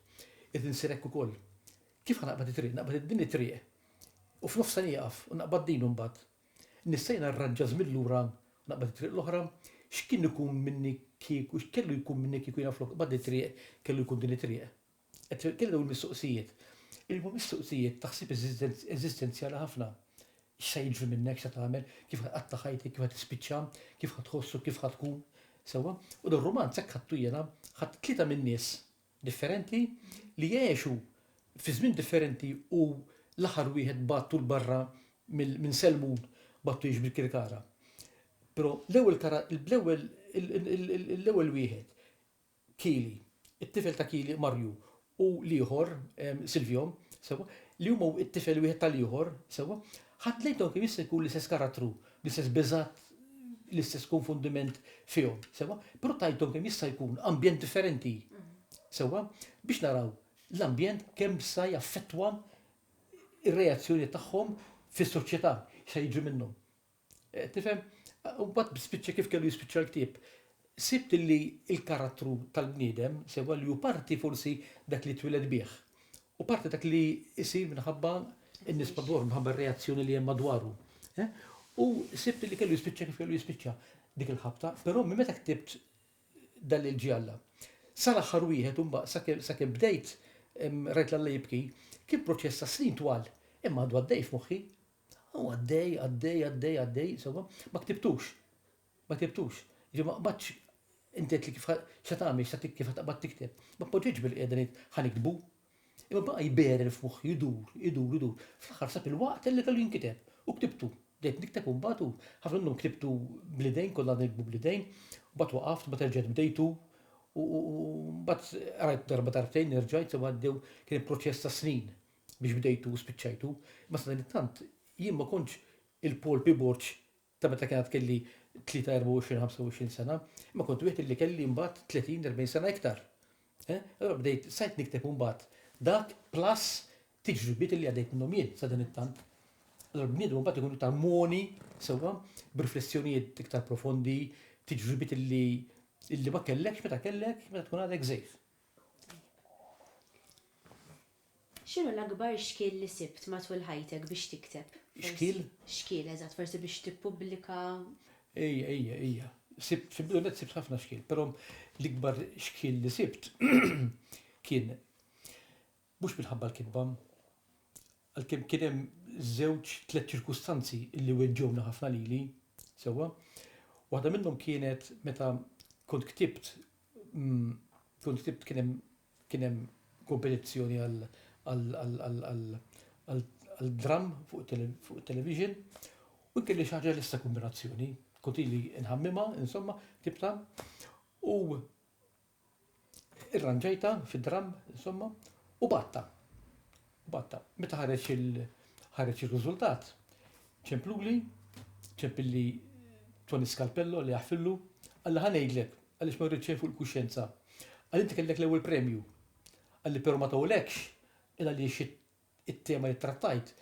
irrid insir hekk ukoll. Kif ħa naqbad it-triq? Naqbad din it-triq u f'nofsha nieqaf u naqbad din imbagħad. Nissejn arraġġa żmien lura u naqbad it-triq l-oħra. X'kien ikun minni kieku, x'kellu jkun minni kieku jiena flok nqbad it-triq kellu jkun din it-triq? Qed kelli dawn mistoqsijiet. Li huma mistoqsijiet ta' ħsieb eżistenzjali ħafna. X'sa jiġri minnek, x'sa tagħmel, kif ħa tqatta' ħajtek, kif ħa tispiċċa, kif ħa tħossok, kif ħa tkun. Sewwa. U dan romanz hekk ħadtu jiena, ħadt tlieta min-nies differenti, li għexu fi żmien differenti u l-aħħar wieħed bagħtu 'l barra minn Selmun, bagħtu jgħix bil-Kirkara. Però l-ewwel l-ewwel wieħed, Kili, it-tifel ta' Kili, Marju, u l-ieħor, Silvio, sewwa, li huma t-tifel wieħed tal-ieħor, sewwa, ħadd lejn dawn kemm jista' jkun l-istess karattru, L-istess biżgħat, l-istess konfundiment fihom, sewwa? Però tajthom kemm jista' jkun ambjent differenti, sewwa? Biex naraw l-ambjent kemm sa jaffettwa ir-reazzjoni tagħhom fis-soċjetà, x'se jiġri minnhom. Tifhem? U mbagħad spiċċa kif kellu jispiċċa l-ktieb, Sibt li l-karattru tal-bniedem sewwa li hu parti forsi dak li twieled bih u parti dak li jsir minħabba n-nies madwaru, minħabba r-reazzjoni li hemm madwaru. U sibt li kellu jispiċċa kif kellu jispiċċa dik il-ħabta, però minn meta ktibt dan li l-ġie Alla. Sal-aħħar wieħed u mba sakemm bdejt rajt l-Alla jibki, kien proċess ta' snin twal, imma għadu għaddej f'moħħi. U għaddej, għaddej, għaddej, għaddej, sewwa, ma ktibtux. Ma ktibtux. Jiġifieri ma qbadtx inti għedtli kif ħa x'ħa tagħmel, x'ħa tikteb, x'ħa taqbad tikteb. Ma tpoġġietx bil-qiegħda ngħid ħa niktbu. Imma baqa' jberel f'moħħi, idur, idur, idur. Fl-aħħar sab il-waqt li kellu jinkiteb. U ktibtu. Bdejt nikteb u mbagħad u ħafna minnhom ktibtu bl-idejn, konna għadna niktbu bl-idejn, u mbagħad waqaft, mbagħad erġajt bdejtu u mbagħad qrajt darba darbtejn, erġajt, sew għaddew kien proċess ta' snin biex bdejtu u spiċċajtu. Imma sadanittant jien ma kontx il-Paul Piborġ ta' meta kien għad kelli 3, 24, 25 sena, imma kont wieħed li kelli mbagħad 30, 40 sena iktar. Eh? Allora bdejt sajt nikteb mbagħad dak plus tiġribiet li għadejt minnhom jien sa din it-tant. Allora bniedem mbagħad ikun iktar moni sewwa b'riflessjonijiet iktar profondi, tiġribiet li illi ma kellekx meta kellek meta tkun għadek żejf. X'inhu l-akbar xkiel li sibt matul ħajtek biex tikteb? Xkiel? Xkiel, eżatt, forsi biex tippubblika. Ejja, ejja, ejja. Sibt, fil-bidu nett sibt ħafna xkiel, però l-ikbar xkiel li sibt kien mhux minħabba l-kitba, għalkemm kien hemm żewġ, tliet ċirkustanzi li weġġgħuna ħafna lili, sewwa. Waħda minnhom kienet meta kont ktibt, kont ktibt kien hemm Kien hemm kompetizzjoni għad-dramm fuq it-television u jien kelli xi ħaġa lesta kombinazzjoni. Kont ili nħammimha, insomma, ktibtha u irranġajtha fid-dramm, insomma, u bgħattha. B'għatta. Meta ħareġ il ħareġ ir-riżultat, ċempluli, ċempilli Toni Scalpello li aħfillu, qalli ħa ngħidlek għaliex ma rridx xejn fuq il-kuxjenza. Qalli inti kellek l-ewwel premju. Qalli però ma tawlekx il għaliex it-tema li ttrattajt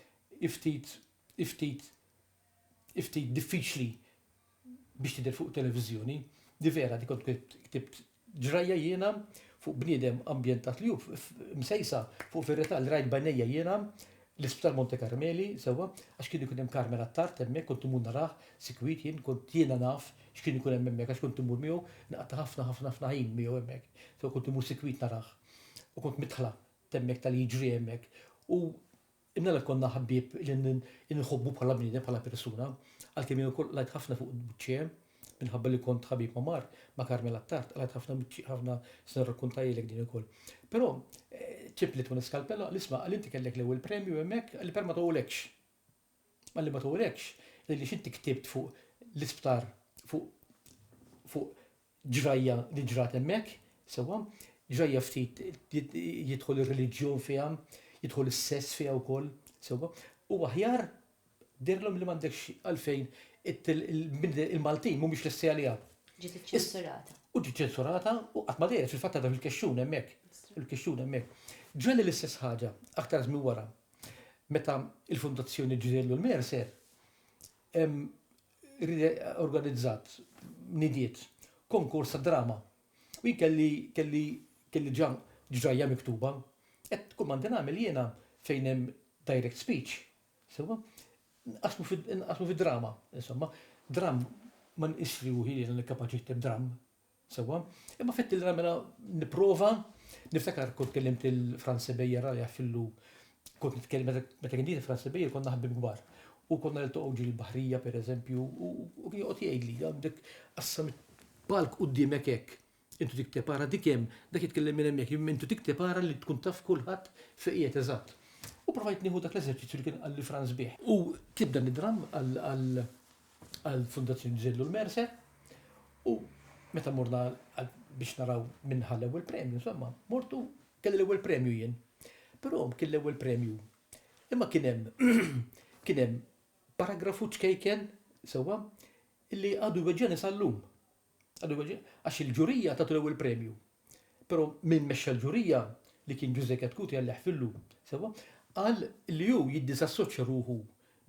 hi ftit hi ftit ftit diffiċli biex tidher fuq televiżjoni, di vera di kont ktibt ġrajja jiena fuq bniedem ambjentat li hu msejsa fuq verità li rajt b'għajnejja jiena l-Isptar Monte Karmeli sewwa għax kien ikun hemm Karmel Attard hemmhekk kont imur narah sikwit jien kont jiena naf x'kien ikun hemm hemmhekk għax kont imur miegħu nqatta' ħafna ħafna ħafna ħin miegħu hemmhekk. Sewwa kont imur sikwit narah u kont mitħla t'hemmhekk tal-li jiġri hemmhekk u Imnalla jkollna ħbieb li nħobbu bħala bniedem, bħala persuna, għalkemm jien ukoll qlajt ħafna fuq Buċċie, minħabba li kont ħabib ma' Mark, ma' Carmel Attard, qlajt ħafna Buċċie, ħafna se nirrakkuntajlek din ukoll. Però ċipli Tony Scalpella qal isma' qal inti kellek l-ewwel premju hemmhekk qalli per ma togħolekx. Qalli ma togħolekx għaliex inti ktibt fuq l-isptar fuq fuq ġrajja li ġrat hemmhekk, sewwa, ġrajja ftit jidħol ir-reliġjon fiha, jidħol is-sess fiha wkoll, sewwa, u aħjar dirlhom li m'għandekx għalfejn il-Maltin mhumiex lesti għaliha. Ġiet iċċensurata. U ġiet ċensurata u qatt ma dejja fil-fatt għadha fil-kexxun hemmhekk. Il-kexxun hemmhekk. Ġrali l-istess ħaġa aktar żmien wara. Meta l-Fondazzjoni ġriellu l-Mercer, organizzat, nidiet, konkors ta' drama. U jien kelli, kelli, kelli ġa ġrajja miktuba. Qed kull ma għandi nagħmel jiena fejn hemm direct speech, sewwa, nqassmu fi, nqassmu fi drama, insomma. Dramm, ma nqisx ruħi li jiena kapaċi nikteb dramm. Sewwa, imma fett li mela nipprova niftakar kont kellimt lil Franz Sebejjer għal jafillu kont nitkellem meta kien Franz Sebejjer konna ħabbib kbar. U konna niltaqgħu ġil baħrija pereżempju u kien joqgħod jgħidli għandek qassam palk qudiemek hekk. Intu dik tepara dik hemm, dak jitkellem minn hemmhekk, intu dik tepara li tkun taf kulħadd fejn qiegħed eżatt. U provajt nieħu dak l-eżerċizzju li kien qalli Franz bih. U tibda nidram għal għal Fundazzjoni Zillu l-Merse u meta morna biex naraw minn ħal ewwel premju, insomma, mortu kelli l-ewwel premju jien. Però kien l-ewwel premju. Imma kien hemm kien hemm paragrafu ċkejken sewwa illi għadu jweġġani sal-lum. Għax il-ġurija tatu l-ewwel premju. Però min mexxa l-ġurija, li kien Ġużè Katkuti Alla jħfirlu, sewwa, qal li hu jiddiżassoċja ruħu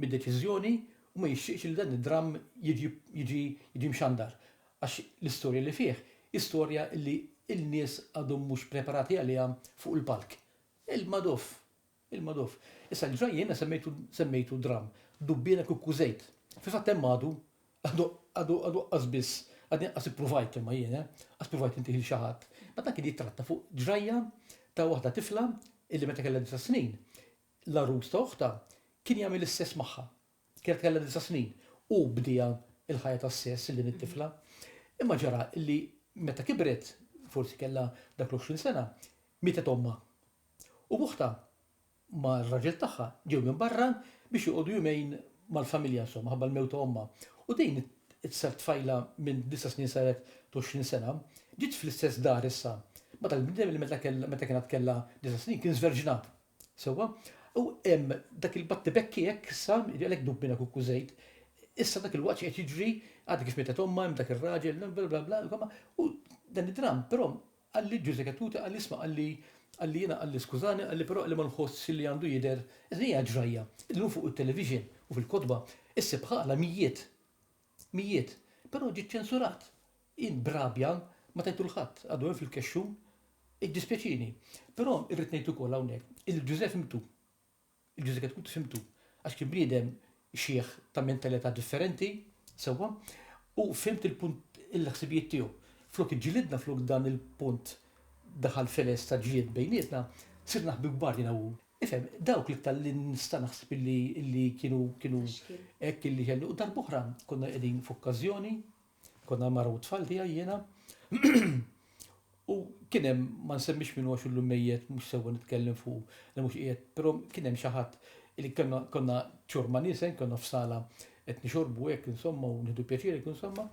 mid-deċiżjoni u ma jixtieqx li dan id-dramm jiġi jiġi mxandar għax l-istorja li fih hi storja li l-nies għadhom mhux preparati għaliha fuq il-palk. Il-Madoff Il-magħruf. Issa l-ġrajja jiena semmejtu semmejtu dramm, dubbiena kieku kużejt. Fil-fatt hemm għadu għadu għadu għadu aqqas biss għadni aqqas ippruvajt imma jien, eh, aqqas pruvajt intih lil xi ħadd. Ma dan kien jittratta fuq ġrajja ta' waħda tifla illi meta kellha disa' snin, l-għarus ta' oħtha kien jagħmel is-sess magħha. Kienet kellha disa' snin u bdiha l-ħajja tas-sess lil din it-tifla. Imma ġara li meta kibret, forsi kellha dak l-għoxrin sena, mietet ommha. U b'uħtha mar-raġel tagħha ġew minn barra biex joqogħdu jumejn mal-familja insomma ħabba l-mewt ta' ommha. U din it-tfajla minn disa' snin saret t'għoxrin sena, ġiet fl-istess dar issa ma' dal-bniedem li meta kienet għad kellha disa' snin kien żverġnat. Sewwa? U hemm dak il-battibekki hekk issa, għalhekk dub minn akukku żejt, issa dak il-waqt qed jiġri, għad kif mietet ommha hemm dak ir-raġel, bla bla bla, insomma, u dan id-dramm, però qalli Ġużè Cattuti qalli isma' qalli qalli jiena qalli skużani qalli però qalli ma nħossx li għandu jidher, din hija ġrajja, illum fuq it-television u fil-kotba issib ħala mijiet Mijiet, però ġie ċċensurat. Jien b'rabja ma tajtu 'l ħadd, għadu hemm fil-kexxun. Iddispjaċini. Però irrid ngħid ukoll hawnhekk illi l-Ġużè fhimtu. Il-Ġużè Katkuti fhimtu. Għax kien bniedem xiħ ta' mentalità differenti, sewwa, u fhimt il-punt il-ħsibijiet tiegħu. Flok iġġilidna, flok dan il-punt daħal feles ta' ġlied bejnietna, sirna ħbieb kbar jiena u hu. Ifhem, dawk l-iktar li nista' naħseb illi kienu hekk illi kelli. U darb'oħra konna qegħdin f'okkażjoni, konna l-mara u t-tfal tiegħi jiena, u kien hemm, ma nsemmix min hu għax illum mejjet mhux sewwa nitkellem fuqu li mhux qiegħed, però kien hemm xi ħadd li konna ċurma niesen, konna f'sala qed nixorbu hekk insomma u nieħdu pjaċir hekk insomma.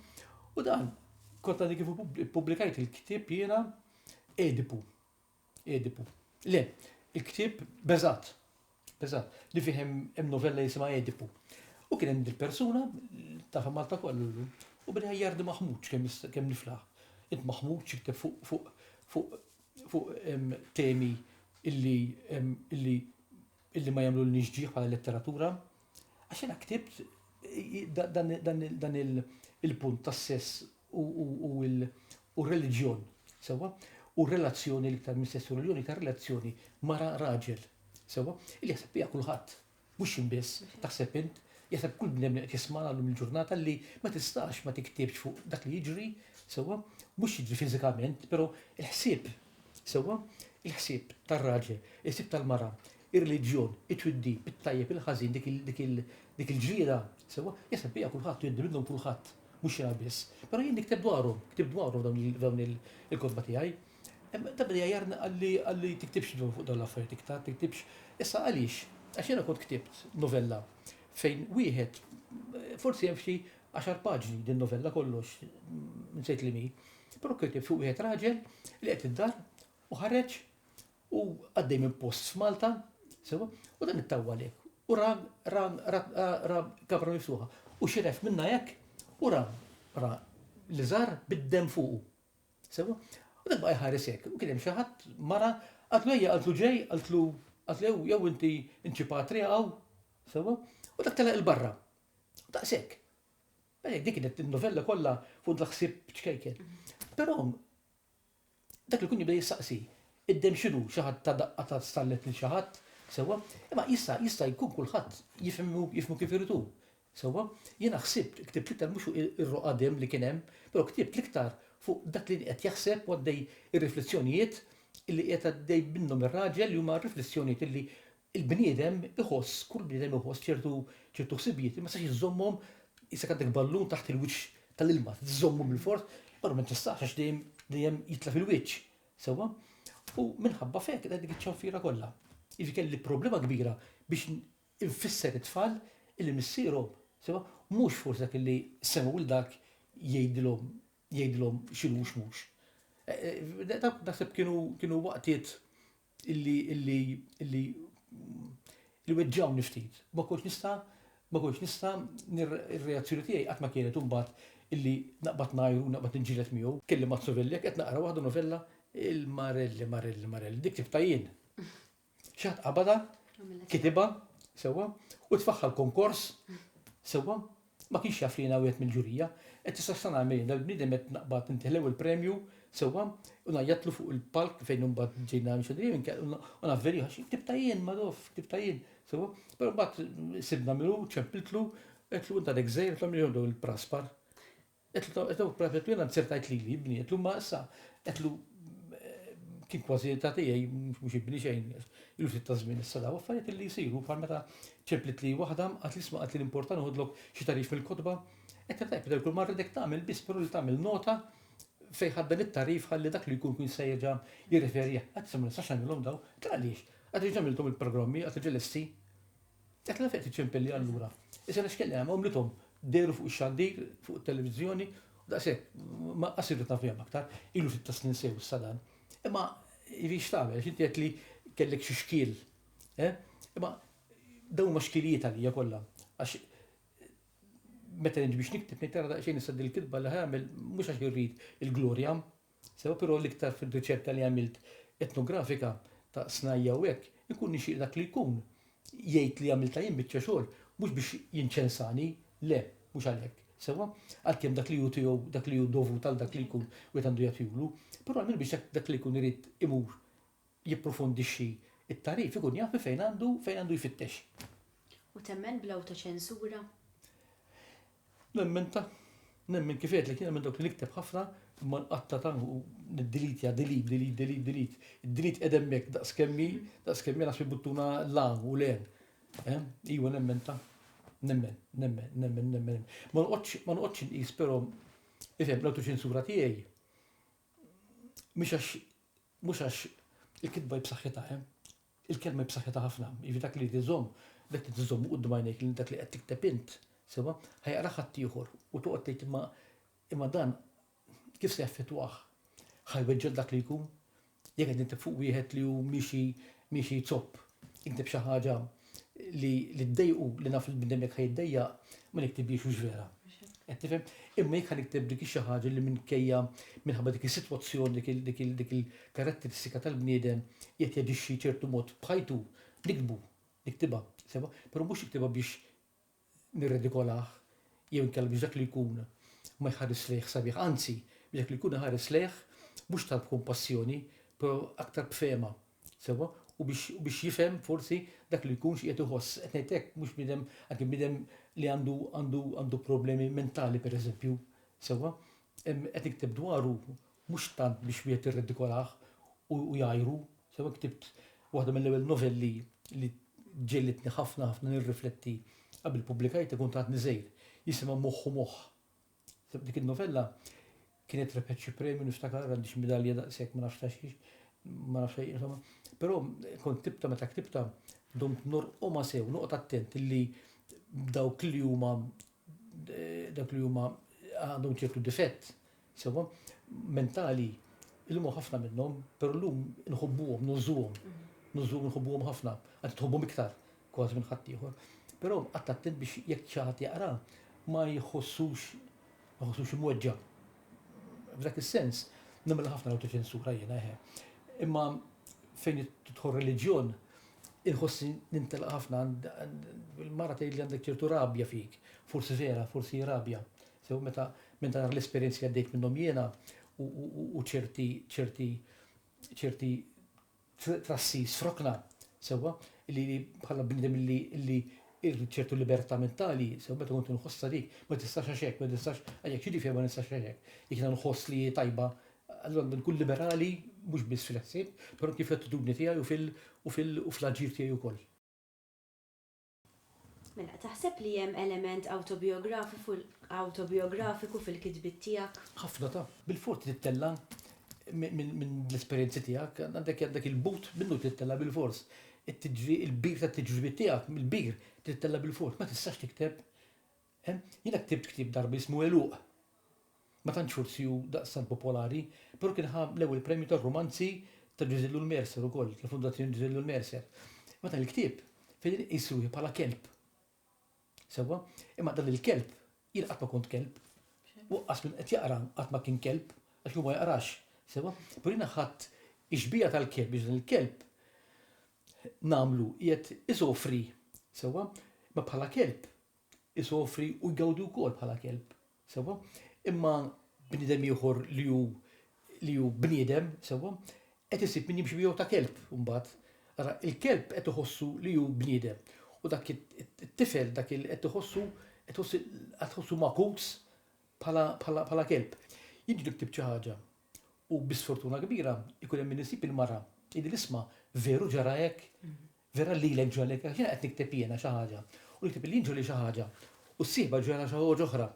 U dan, kont għadni kif ippubblikajt il-ktieb jiena Edipu. Edipu. Le, il-ktieb beżat, beżat, li fih hemm novella jisimha Edipu. U kien hemm dil-persuna, tafa Malta kollu, u bidha jardi maħmuċ kemm niflaħ. Int maħmuċ jikteb fuq temi illi illi ma jagħmlulniex ġieħ bħala letteratura, għax jiena ktibt dan il-punt tas-sess u r-reliġjon, sewwa, u r-relazzjoni l-iktar minn sess u reliġjon, iktar relazzjoni mara raġel, sewwa, li jaħseb biha kulħadd, mhux jien biss, taħseb int, jaħseb kull bnedmin qed jisma' llum il-ġurnata li ma tistax ma tiktibx fuq dak li jiġri, sewwa, mhux jiġri fiżikament, però l-ħsieb Sewwa, il-ħsieb tar-raġel, il-ħsieb tal-mara, ir-reliġjon, it-twiddib, it-tajjeb, il-ħażin, dik il, dik il, dik il-ġriera, sewwa, jaħseb biha kulħadd u jgħiddi minnhom kulħadd, mhux jiena biss. Però jien nikteb dwarhom, ktibt dwarhom f'dawn il, f'dawn il, il-kotba tiegħi. Imma ta' min igħajjarni qalli, qalli tiktibx dwar fuq dawn l-affarijiet iktar, tiktibx. Issa għaliex? Għax jiena kont ktibt novella fejn wieħed, forsi hemm xi għaxar paġni din novella kollox, nsejt li mi. Prokriti fuq wieħed raġel li qed id-dar u ħareġ u għaddej minn post f'Malta, sewa, u dan ittawwa lek. U ra ra ra kabra miftuħa. U xiref minna hekk u ra ra li żar bid-dem fuqu. Sewa? U dak baqa' jħares hekk. U kien hemm xi ħadd mara għatlu ejja għatlu ġej, għatlu għatlu jew inti inċipat riqgħu. Sewa? U dak telaq il-barra. Daqshekk. Beh, dik kienet novella kollha fuq dak ħsieb ċkejken. Però dak li jkun jibda jistaqsi, id-demm x'inhu? Xi ħadd ta daqqa ta' stallet lil xi ħadd, sewwa? Imma jista' jista' jkun kulħadd jifhmu jifhmu kif irid hu, sewwa? Jiena ħsibt, ktibt l-iktar mhux fuq ir-roqgħa demm li kien hemm, però ktibt l-iktar fuq dak li qed jaħseb u għaddej ir-riflessjonijiet li qiegħed għaddej minnhom ir-raġel li huma riflessjonijiet li il-bniedem iħoss, kull bniedem iħoss ċertu ċertu ħsibijiet li ma jistax iżommhom isek għandek ballun taħt il-wiċċ tal-ilma, tżommu bil-fors, però ma tistax għax dejjem dejjem jitla' fil-wiċċ. Sewwa? U minħabba fek qed dik iċ-ċanfira kollha. Jiġi kelli problema kbira biex infisser it-tfal illi missierhom, sewwa, mhux forsi dak illi sema u dak jgħidilhom jgħidilhom x'inhu x'mhux. Naħseb kienu kienu waqtiet illi illi illi li weġġgħuni ftit. Ma kontx nista' ma kontx nista' ir-reazzjoni tiegħi qatt ma kienet imbagħad illi naqbad ngħajr u naqbad niġġieled miegħu. Kelli Mazzuvilli jekk qed naqra waħda novella il-Marelli, Marelli, Marelli, dik ktibtha jien. Xi ħadd qabadha, kitibha, sewwa, u tfaħħa l-konkors, sewwa, Ma kienx jaf li jiena wieħed mill-ġurija. Qed tista' x'se nagħmel jien, dal-bniedem qed naqbad nitħlew il-premju sewwa u ngħajjatlu fuq il-palk fejn imbagħad ġejna mxandrin imkien u navverjah għax ktibtha jien, Madoff, ktibtha jien, sewwa. Però mbagħad sibna min hu, ċempiltlu, għedtlu int għadek żgħir, għedtilhom li jieħdu dawn il-praspar. Qed u pratikament jiena nsirt tgħid lili bniet llum ma issa qed u kien kważi ta' tiegħi mhux ibni xejn ilu ftit ta' żmien issa daw affarijiet li jsiru bħal meta ċempliet li waħda qatt li isma' qatt li l-importa noħodlok xi tagħrif mill-kotba qed tajjeb li kull ma rridek tagħmel biss però li tagħmel nota fejn ħadt dan it-tagħrif ħalli dak li jkun kun jista' jerġa' jirreferi għal. Qatt issa ma nistax nagħmilhom daw. Qed għaliex? Qatt li ġa għamilthom il-programmi, qatt li ġa lesti. Dak l-affett iċ-ċempelli allura. Issa l-iskella hemm għomlithom dehru fuq ix-xandir, fuq it-televiżjoni, daqshekk, ma qasirtu ta' fehma aktar, ilu sitta snin sew issa dan. Imma jrix tagħmel, x'inti qed li kellek xi xkiel. Eh? Imma dawn ma xkilijiet għalija kollha. Għax meta nġi biex nikteb nitara daqsxejn issa dil-kitba li ħamel mhux għax irrid il-glorja, Sewa però l-iktar fir-riċerka li għamilt etnografika ta' snajja' u hekk, ikun nixtieq dak li jkun jgħid li għamiltha jien biċċa xogħol mhux biex jinċensani, le, mhux għalhekk, sewwa? għalkemm dak li hu tiegħu, dak li hu dovut għal dak li jkun wieħed għandu jagħtihulu, però għall-inqas biex dak li jkun irid imur jipprofondixxi t-tagħrif ikun jaf minn fejn għandu fejn għandu jfittex. U temmen bl-awtoċensura? Nemmen ta. Nemmen kif għedlek jiena minn dawk li nikteb ħafna imma nqatta ta' u niddilitja delete, delete, delete, delete. Id-delete qed hemmhekk daqs kemmi, daqs kemmi għax buttuna la u len. Eh? Iwa nemmen ta' nemmen, nemmen, nemmen, nemmen. Ma nqodx, ma nqodx nqis però ifhem l-autoċensura tiegħi. Mhix għax Mhux għax il-kitba hi b'saħħitha, eh. Il-kelma hi b'saħħitha ħafna, jiġifieri dak li jrid iżomm, dak li trid iżommu quddiem għajnejk li dak li qed tikteb int, sewwa, ħa jaqrah ħaddieħor u toqgħod tgħid imma imma dan kif se jaffettwah? Ħa jweġġgħek dak li jkun? Jekk qed nikteb fuq wieħed li hu miexi miexi jzopp, ikteb xi ħaġa li li ddejqu li naf li bnedem jekk ħajiddejjaq ma niktiblix mhux vera. Qed tifhem? Imma jekk nikteb dik xi ħaġa li minkejja minħabba dik is-sitwazzjoni dik il-karatteristika tal-bniedem qed jaġixxi ċertu mod b'ħajtu, nikbu, niktibha, sewa, però mhux niktibha biex nirridikolah jew inkella biex dak li jkun ma jħares lejh sabiħ, anzi, biex dak li jkun iħares lejh mhux tant b'kumpassjoni, però aktar b'fehma, sewwa, u biex u biex jifhem forsi dak li jkun x'qiegħed iħoss. Qed ngħid hekk mhux bniedem anke bniedem li għandu għandu għandu problemi mentali pereżempju, sewwa, qed nikteb dwaru mhux tant biex wieħed jirredikolah u jgħajru, sewa ktibt waħda mill-ewwel novelli li ġegħlitni ħafna ħafna nirrifletti qabel pubblikajt ikun ta' għadni żgħir, jisimha Moħħ u Moħħ. Dik in-novella kienet rebħet xi premju niftakar, għandi xi midalja daqshekk ma nafx ta' xiex, ma nafx insomma. Però kont ktibta meta ktibta domt norqomha sew, noqgħod attent li dawk li huma dawk li huma għandhom ċertu difett Sewwa, mentali, illum hawn ħafna minnhom, però llum inħobbuhom, nużuhom, nużuhom inħobbuhom ħafna, anzi tħobbhom iktar kważi minn ħaddieħor. Però qatt attent biex jekk xi ħadd jaqra ma jħossux ma jħossux imweġġa'. F'dak is-sens nagħmilha ħafna l-awtoċensura jiena eħe. Imma fejn tidħol reliġjon inħossi nintelaq ħafna il-mara tgħidli għandek ċertu rabja fik, forsi vera, forsi rabja. Sew meta minn dawn l-esperjenzi li għaddejt minnhom jiena u ċerti ċerti ċerti trassi srokna sewwa li bħala bniedem li li ċertu libertà mentali, sew meta kont nħossha dik, ma tistax għax hekk, ma tistax għajek xi ġifier ma nistax għax hekk. Jekk jiena nħoss li tajba, allura għandu nkun liberali mhux biss fil-ħsieb, però kif l-attitudni tiegħi u fil-aġir tiegħi wkoll. Mela, taħseb li hemm element awtobijografiku fil-kitbiet tiegħek? Ħafna ta'. Bil-fors trid tella' minn l-esperjenzi tiegħek, għandek il-but minnu trid tella' bil-fors. Il-bir tat-tiġribiet tiegħek, il-bir trid tella' bil-fors. Ma tistax tikteb Jiena ktibt ktieb darba jismu Għeluq. Ma tantx forsi hu daqstant popolari, però kien ħa l-ewwel premju tar-rumanzi ta' Ġużè Lul Mercer ukoll, tal-Fondazzjoni Ġużè Lul Mercer. Imma dan il-ktieb fejn inqis ruħi bħala kelb. Sewwa? Imma dan il-kelb, jien qatt ma kont kelb. U anqas min qed jaqra qatt ma kien kelb, għax hu ma jaqrax. Sewwa? Però jiena ħadt ix-xbieha tal-kelb biex dan il-kelb nagħmlu qiegħed isofri. Sewwa? Imma bħala kelb, isofri u jgawdi wkoll bħala kelb, sewwa? Imma bniedem ieħor li hu li hu bniedem, sewwa, qed isib min jimxi miegħu ta' kelb imbagħad. Ara, il-kelb qed iħossu li hu bniedem u dak it-tifel dak il qed iħossu qed iħossu qed iħossu magħkuż bħala bħala bħala kelb. Jien ġiet ktibt xi ħaġa u bi sfortuna kbira jkun hemm min isib il-mara, jgħidli isma' veru ġara hekk? Vera lilek ġralek għax jiena qed nikteb jiena xi ħaġa u jikteb li jien ġrali xi ħaġa u s-sieħba ġralha xi ħaġa oħra.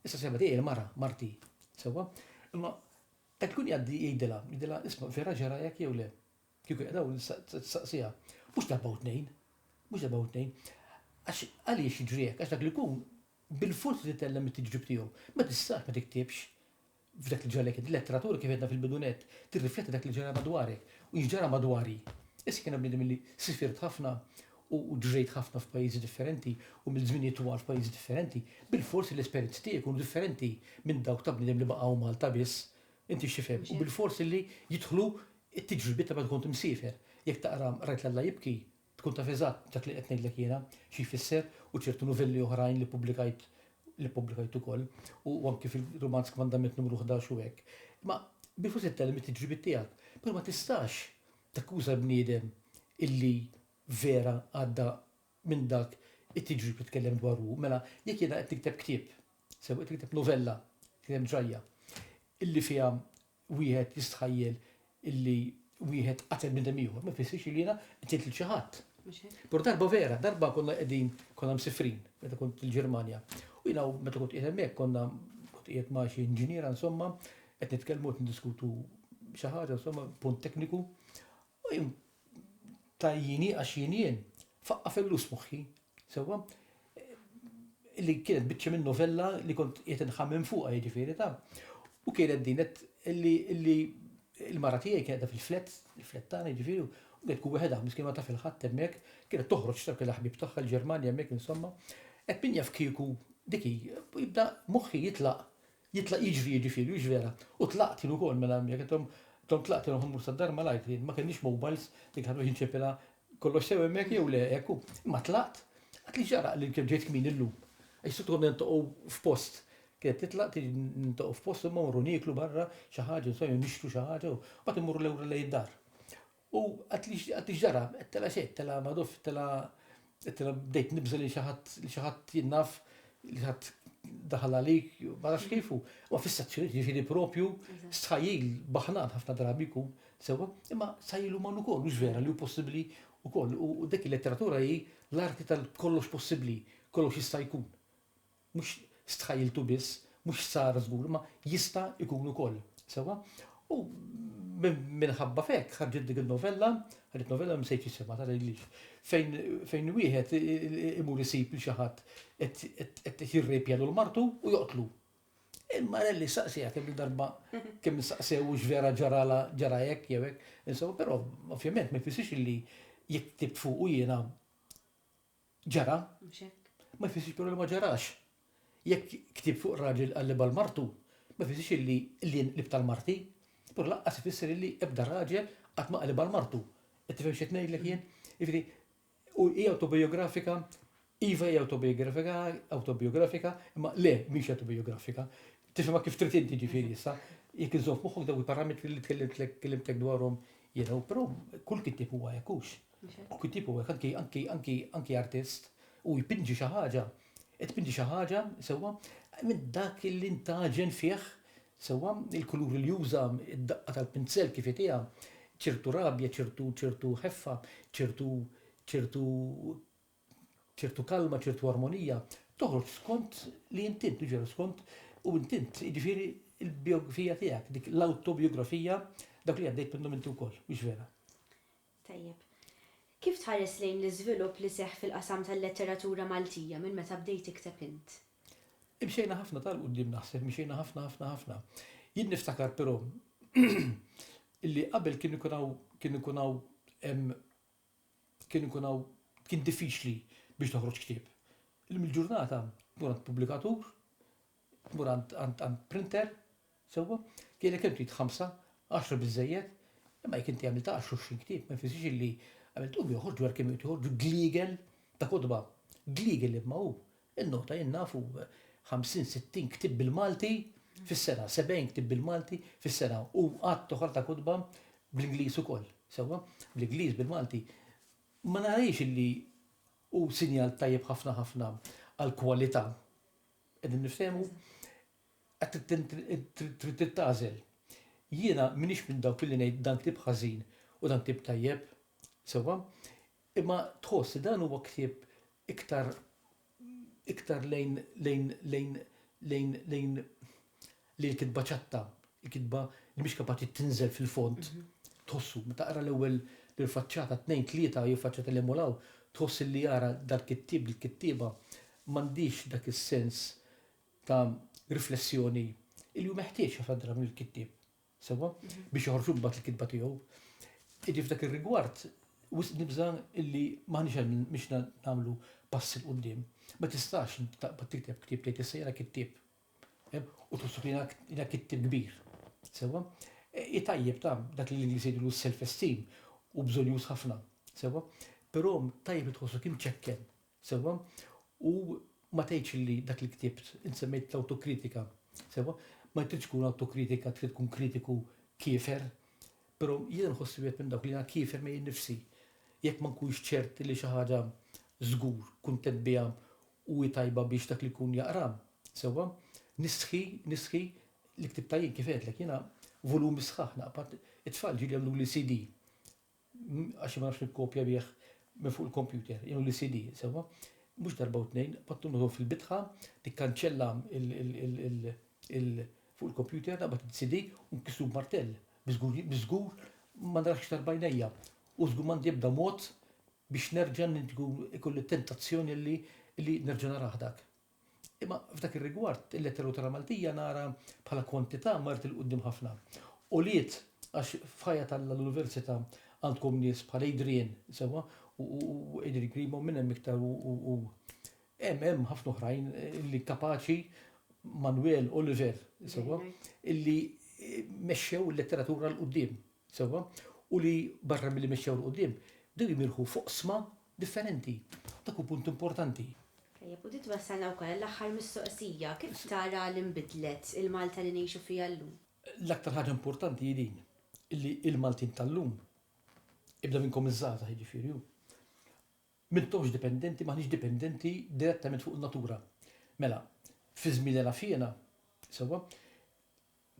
Issa s-sieħba tiegħi hi mara, marti. Sewwa? Imma qed ikun jgħaddi jgħidilha, jgħidilha isma' vera ġralek jew le? Kieku qiegħda hawn tistaqsiha. Mhux darba u tnejn. Mhux darba u tnejn. Għax għaliex jiġri hekk? Għax dak li jkun bil-fors irid itellem it-tiġrib tiegħu. Ma tistax ma tiktibx. F'dak li ġralek int, letteratura kif għedna fil-bidu nett, tirrifletti dak li ġara madwarek u x'ġara madwari. Issa kien hemm bniedem li sifirt ħafna u ġrejt ħafna f'pajjiżi differenti u għamilt żminijiet twal f'pajjiżi differenti, bilfors l-esperjenzi tiegħi jkunu differenti minn dawk ta' bniedem li baqa' hawn Malta biss. Inti x'tifhem? U bilfors li jidħlu t-tiġribiet ta' meta kont imsiefer. Jekk taqra Rajt l-Alla jibki, Tkun taf eżatt dak li qed ngħidlek jiena xi jfisser u ċertu nuvelli oħrajn li pubblikajt li pubblikajt ukoll u anki fil-rumanz Kmandament Numru Ħdax u hekk. Imma biex forsi ttellem it-tiġribiet tiegħek, però ma tistax takkuża l-bniedem illi vera għadda minn dak it-tiġrib li tkellem dwaru hu. Mela jekk jiena qed nikteb ktieb, sew qed nikteb novella, qed nikteb ġrajja illi fiha wieħed jistħajjel illi wieħed qatel bniedem ieħor ma jfissirx li jiena qtilt lil xi ħadd. Però darba vera, darba konna qegħdin konna msifrin meta kont il-Ġermanja. U jiena meta kont qiegħed hemmhekk konna kont qiegħed ma' xi inġiniera insomma qed nitkellmu qed niddiskutu xi ħaġa insomma punt tekniku. U jien ta' jieni għax jien jien, faqqa' fil-lus moħħi, sewwa, li kienet biċċa minn novella li kont qiegħed inħammem fuqha jiġifieri ta'. U kienet din qed li li l-mara tiegħi kienet qiegħda fil-flat, il-flat tagħna jiġifieri, u qed tkun weħedha miskien ma taf il-ħadd hemmhekk, kienet toħroġ ta' kellha ħbieb tagħha l-Ġermanja hemmhekk insomma. Qed min jaf kieku dik hi, jibda moħħi jitlaq Jitlaq jiġri jiġifieri u jiġvera, u tlaqt jien ukoll mela hemmhekk qed intom intom tlaqtu jien ħammur sad-dar malajr jien ma kellniex mobiles dik l-ħaġa biex inċeppilha kollox sew hemmhekk jew le hekk hu. Imma tlaqt qatt li ġara li kemm ġejt kmieni llum. Għax s-soltu konna niltaqgħu f'post. Kienet titlaq tiġi niltaqgħu f'post imma mmorru nieklu barra xi ħaġa insomma jew nixtru xi ħaġa u mbagħad immorru lura lejn id-dar. U qatt li qatt li x'ġara, qed tela' xejn, tela' Madoff, tela' qed tela' bdejt nibża' li xi ħadd li xi ħadd jien naf li xi ħadd daħal għalik, ma nafx kif u ma fissazzjonijiet jiġifieri proprju stħajjil baħnan ħafna drabi jkun sewwa, imma stħajjil uman ukoll mhux vera li hu possibbli wkoll u dik il-letteratura hi l-arti tal-kollox possibbli, kollox jista' jkun. Mhux stħajjiltu biss, mhux sar żgur, imma jista' jkun ukoll. Sewwa? U minħabba f'hekk ħarġet dik in-novella, ħarġet novella ma nsejtx isimha tara jidhirlix, fejn fejn wieħed imur isib lil xi ħadd qed qed jirrejpja lil martu u joqtlu. E Marelli saqsejha kemm-il darba kemm insaqsew hux vera ġaralha ġara hekk jew hekk. Insewwa, però ovvjament ma jfissirx illi jekk ktibt fuqu jiena Ġara. Mhux hekk? Ma jfissirx però li ma ġarax. Jekk ktieb fuq raġel qal li bal martu, ma jfissirx illi lien qlibt għal marti. Però lanqas ifisser illi ebda raġel qatt ma qal li bal martu. Qed tifhem x'qed ngħidlek jien? Jiġifieri, u hi awtobijografika, iva hi awtobijografika, awtobijografika, imma le, mhix awtobijografika. Tifhimha kif trid inti ġifieri issa. Jekk iżżomm f'moħħok dawk il-parametri li tkellimtlek kellimtek dwarhom jiena, u però kull kittieb huwa hekk hux. U kittieb u hekk, anki, anki, anki artist, hu jpinġi xi ħaġa, qed tpinġi xi ħaġa, sewwa, minn dak li ntgħaġen fih, sewwa, il-kuluri li juża, id-daqqa tal-pinzell kif itiha, ċertu rabja, ċertu, ċertu ħeffa, ċertu, ċertu, ċertu kalma, ċertu armonija, toħroġ skont li int int, jiġifieri skont, u int int, jiġifieri l-bijografija tiegħek, dik l-awtobijografija, dak li għaddejt minnhom inti wkoll, mhux vera? Tajjeb. Kif tħares lejn l-iżvilupp li seħħ fil-qasam tal-letteratura Maltija minn meta bdejt tikteb int? Imxejna ħafna ta' 'l quddiem naħseb, mxejna ħafna ħafna ħafna. Jien niftakar però li qabel kien ikun hawn kien ikun hawn kien ikun hawn kien diffiċli biex toħroġ ktieb. Illum il-ġurnata tkun għand pubblikatur, Mur għand għand għand printer, sewwa, jgħidlek kemm trid ħamsa, għaxra biżżejjed, imma jekk inti għamilt għaxar għoxrin ktieb ma jfissirx illi għamilt u joħorġ wara kemm joħorġ gliegel ta' kotba. Gliegel imma hu. Innota jien naf u ħamsin, sittin ktieb bil-Malti fis-sena, sebgħin ktieb bil-Malti fis-sena u għadd oħra ta' kotba bl-Ingliż ukoll, sewwa, bl-Ingliż, bil-Malti. Ma narahiex illi hu sinjal tajjeb ħafna ħafna għall-kwalità. Qegħdin niftehmu? Trid int tagħżel. Jiena m'iniex minn dawk illi ngħid dan ktieb ħażin u dan ktieb tajjeb, sewwa? Imma tħoss li dan huwa ktieb iktar iktar lejn lejn lejn lejn lejn li l-kitba ċatta, il-kitba li mhix kapaċi tinżel fil-fond, tħossu, meta taqra l-ewwel lil faċċata, tnejn, tlieta jew faċċata li hemm u 'l hawn, tħoss li ara dal-kittieb, dil-kittieba m'għandhiex dak is-sens ta' riflessjoni li hu meħtieġ ħafna drabi mill-kittieb, sewwa, biex joħroġ imbagħad il-kitba tiegħu. Jiġifieri f'dak ir-rigward, wisq nibża' li m'aħniex hemm biex nagħmlu pass 'il quddiem. Ma tistax taqbad tikteb ktieb tgħid issa jiena kittieb. u tħossu li jiena kittim kbir. Sewwa? Hi tajjeb ta' dak li l-Ingliż jgħidulu s-self-esteem u bżonjuż ħafna. Sewwa? Però tajjeb li tħossok imċekken. Sewwa? U ma tgħidx li dak li ktibt, int semmejt l-awtokritika. Sewwa? Ma tridx tkun awtokritika, trid tkun kritiku kiefer. Però jiena nħossi wieħed minn dawk li jiena kiefer miegħi nnifsi. Jekk ma nkunx ċert li xi ħaġa żgur kuntent biha u hi tajba biex dak li jkun jaqra sewwa. Nistħi, nistħi, li ktibtha jien kif għedtlek jiena volumi sħaħ naqbad, it-tfal ġieli għamluli CD għax ma nafx nikkopja bih minn fuq il-kompjuter, jagħmluli CD, sewwa. Mhux darba u tnejn, qgħodtu nħu fil-bitħa, nikkanċella fuq il-kompjuter naqbad CD u nkissru b'martell, biż-żgur, biż-żgur ma narax iktar b'għajnejja. U żgur m'għandi ebda mod biex nerġa' nkun ikolli t-tentazzjoni li li nerġa' narah dak. Imma f'dak ir-rigward, il-Lettera Lutera Maltija nara bħala kwantità marret 'il quddiem ħafna. Għoliet għax f'ħajja ta' l-Università għandkom nies bħal Adrian, sewwa, u Adrian Grima u minn hemm iktar u u hemm hemm ħafna oħrajn li kapaċi, Manwel, Oliver, sewwa, li mexxew il-letteratura 'l quddiem. Sewwa, u li barra milli mexxew 'l quddiem, bdew jimirħu f'oqsma differenti. Dak hu punt importanti. Tajjeb, u din twassalna wkoll għall-aħħar mistoqsija, kif tara li nbidlet il-Malta li ngħixu fiha llum? L-aktar ħaġa importanti hi din, li l-Maltin tal-lum, ibda minnkom iż-żgħażagħ jiġifieri hu, m'intomx dipendenti, m'aħniex dipendenti direttament fuq in-natura. Mela, fi żmien Ela Fiena, sewwa,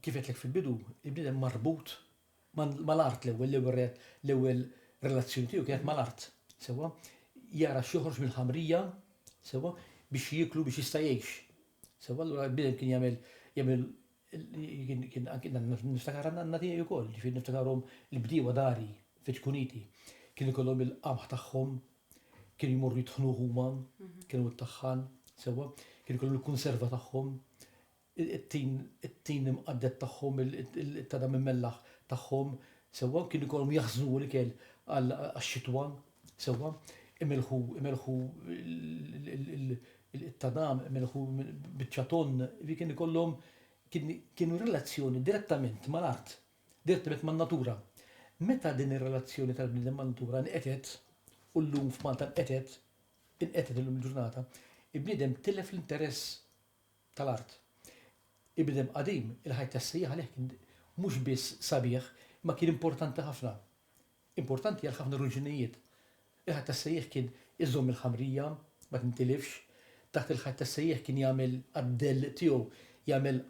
Kif għedtlek fil-bidu, il-bniedem marbut mal-art l-ewwel, l-ewwel l-ewwel relazzjoni tiegħu kienet mal-art, sewwa? Jara x'joħroġ mill-ħamrija, sewwa? Biex jieklu biex jista' jgħix. Sewwa allura l-bniedem kien jagħmel jagħmel kien anki niftakar għandna tiegħi wkoll, ġifieri niftakarhom il-bdiewa dari fiċ-Kuniti. Kien ikollhom il-qamħ tagħhom, kienu jmorru jitħnuh huma, kienu t-taħħan, sewwa? Kien ikollhom il-kunserva tagħhom, it-tin, it-tin imqadded tagħhom, it-tadam immellaħ tagħhom, sewwa, kien ikollhom jaħżnu l-ikel għax-xitwa, sewwa, imellħu, imellħu l-tadam, imellħu biċċa tonn, jiġifieri kien ikollhom, kien, kienu relazzjoni direttament mal-art, direttament man-natura. Meta din ir-relazzjoni tal-bniedem man-natura nqetgħet, u llum f'Malta nqetgħet, inqetgħet illum il-ġurnata, il-bniedem tilef l-interess tal-art. Il-bniedem qadim, il-ħajt tas-sejjaħ għalih kien mhux biss sabiħ, imma kien importanti ħafna. Importanti għal ħafna ruġunijiet. Il-ħajt tas-sejjaħ kien iżomm il-ħamrija ma tintilifx. Taħt il-ħajt tas-sejjaħ kien jagħmel għad-dell tiegħu, jagħmel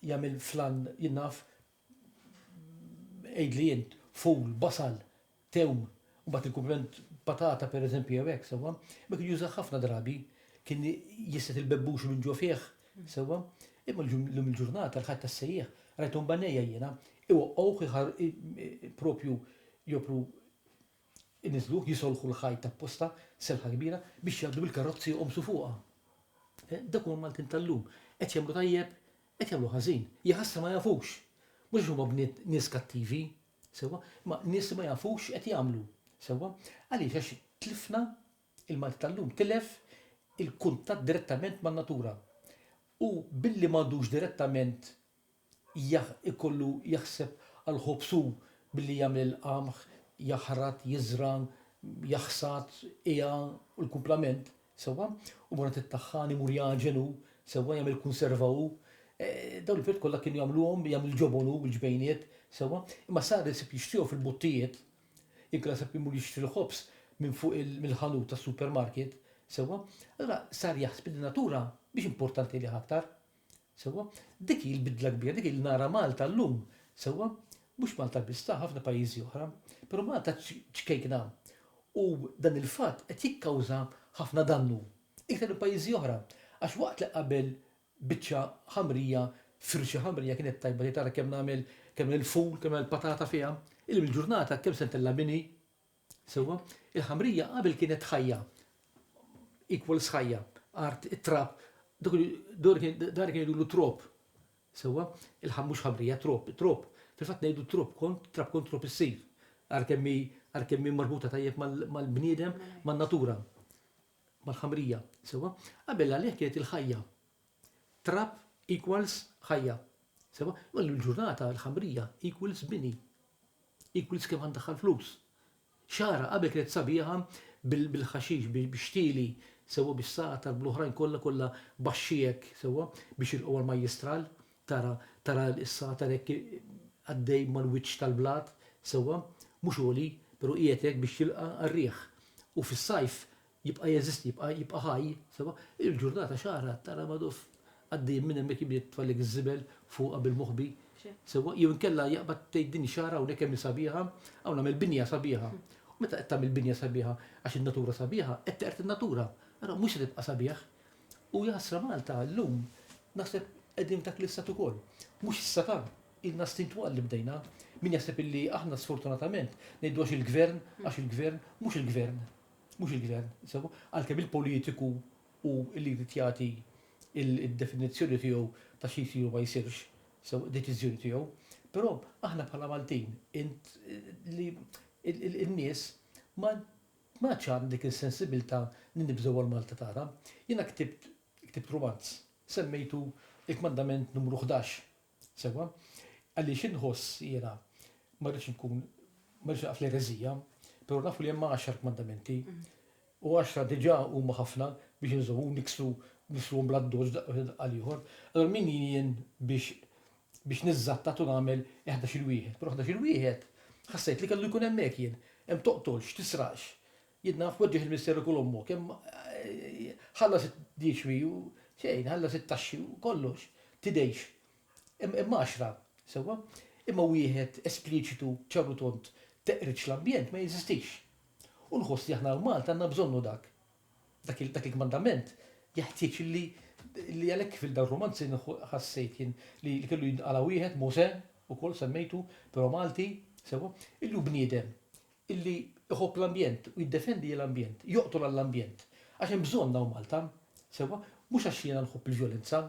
jagħmel flan, jien naf, Għidli int, fool, basal, tewm, u mbagħad il-kumpliment patata pereżempju jew hekk, sewwa? Imma kien jużah ħafna drabi, kien jisset il-bebbuxi minn ġo fih, sewwa? Imma llum il-ġurnata l-ħajt tas-sejjieħ, rajthom b'għajnejja jiena, iwaqqgħuh proprju jopru Iniżżlu, jisolħu l-ħajt apposta, selħa kbira, biex jgħaddu bil-karrozzi joqomsu fuqha. Dawk huma Maltin tal-lum. Qed jagħmlu tajjeb, qed jagħmlu ħażin. Jaħasra ma jafux. Mhux għax huma bniet nies kattivi, sewwa, imma nies li ma jafux x'qed jagħmlu, sewwa. Għaliex? Għax tlifna, il-Malti tal-lum tilef il-kuntatt direttament man-natura. U billi m'għandux direttament jkollu jaħseb għall-ħobż hu billi jagħmel il-qamħ, jaħrat, jiżra', jaħsad, qiegħa u l-kumplament, sewwa? U mbagħad it-taħħan imur jagħġen hu, sewwa, jagħmel kunserva hu. Dawn l-affarijiet kollha kienu jagħmluhom, jagħmel il-ġobon hu bil-ġbejniet, sewwa? Imma sar isib jixtrihom fil-buttijiet, inkella sab imur jixtri l-ħobż minn fuq mill-ħanut tas-supermarket, sewwa? Allura sar jaħseb li n-natura mhix importanti għalih aktar. Sewwa? Dik hi l-bidla kbira, dik hi li nara Malta llum. Sewwa? Mhux Malta biss, ta' ħafna pajjiżi oħra. Però Malta ċkejkna. U dan il-fatt qed jikkawża ħafna dannu. Iktar minn pajjiżi oħra. Għax waqt li qabel biċċa ħamrija, firxa ħamrija kienet tajba tgħid ara kemm nagħmel kemm nagħmel il-ful, kemm nagħmel il-patata fiha, illum il-ġurnata kemm se ntella' mini, Sewwa, il-ħamrija qabel kienet ħajja, equals ħajja, art, it-trab, dawk kienu jgħidulu trob. Sewwa, mhux ħamrija, trob, it-trob. Fil-fatt ngħidu trob kont, trab kont trob issir. Għalkemm hi marbuta tajjeb mal-bniedem, man-natura, mal-ħamrija. Sewwa? Qabel għalih kienet il-ħajja. Trab equals ħajja. Sewa? Imma llum il-ġurnata l-ħamrija equals bini. Equals kemm għanddaħħal flus. Xagħra qabel kienet sabiħa bil-ħaxix, bix-xtieli, sewa bis-sagħtar, bl-oħrajn kollha kollha baxxi hekk, sewa, biex jilqgħu għall-majjistral, tara tara s-sagħtar hekk għaddej mal-wiċċ tal-blat, sewa, mhux għoli, però qiegħed hekk biex jilqa' għar-riħ. U fis-sajf Jibqa' jeżisti, jibqa' jibqa' ħaj, sewwa. Il-ġurnata x'għarha tara Madoff għaddejjin minn hemmhekk imliet tfallek iż-żibel fuqha bil-moħbi, sewwa, jew inkella jaqbad tgħid din ix-xagħra hawnhekk kemm hi sabiħa, hawn għamel binja sabiħa. U meta qed tagħmel binja sabiħa għax in-natura sabiħa, qed teqred in-natura. Allura mhux se tibqa' sabiħ. U jaħasra Malta llum naħseb qegħdin f'dak l-istat ukoll. Mhux issa ta, ilna snin twal li bdejna. Min jaħseb illi aħna sfortunatament ngħidu għax il-gvern, għax il-gvern, mhux il-gvern. Mhux il-Gvern, insomma, għalkemm il-politiku hu li jrid jagħti d-definizzjoni tiegħu ta' xi jsir u ma jsirx, sew id-deċiżjoni tiegħu. Però aħna bħala Maltin, int, li, in-nies, ma m'għadx għandna dik is-sensibilità li nibżgħu għall-Malta tagħna. Jiena ktibt, ktibt rumanz, semmejtu Il-Kmandament Numru Ħdax, Sewwa, għaliex inħoss jiena ma rridx inkun, ma rridx naqaf l-ereżija, però nafu li hemm għaxar kmandamenti u għaxra diġà huma ħafna biex inżommu niksru niksruhom bla ddoġġ daqqa l-ieħor. Allura min jien biex biex niżżattat u nagħmel il-wieħed. Però il-wieħed ħassejt li kellu jkun hemmhekk jien. Hemm toqtolx, tisraqx, Jien naf poġġiex il-misteru kull ommu, kemm ħallas id-dixwi u xejn, ħallas it-taxxi u kollox, tidejx. Imma għaxra, sewwa? Imma wieħed espliċitu, ċar u tond, teqridx l-ambjent ma jeżistix. U nħoss li aħna l-Malta għandna bżonnu dak. Dak il-kmandament jeħtieġ li għalhekk kif il-dawn ir-rumanzi ħassejt jien li kellu jintqala' wieħed, Mosè, ukoll semmejtu, però Malti, sewwa? Illum bniedem, illi iħobb l-ambjent u jiddefendi l-ambjent, joqtol għall-ambjent, għax hemm bżonn hawn Malta, sewwa, mhux għax jiena nħobb il-vjolenza,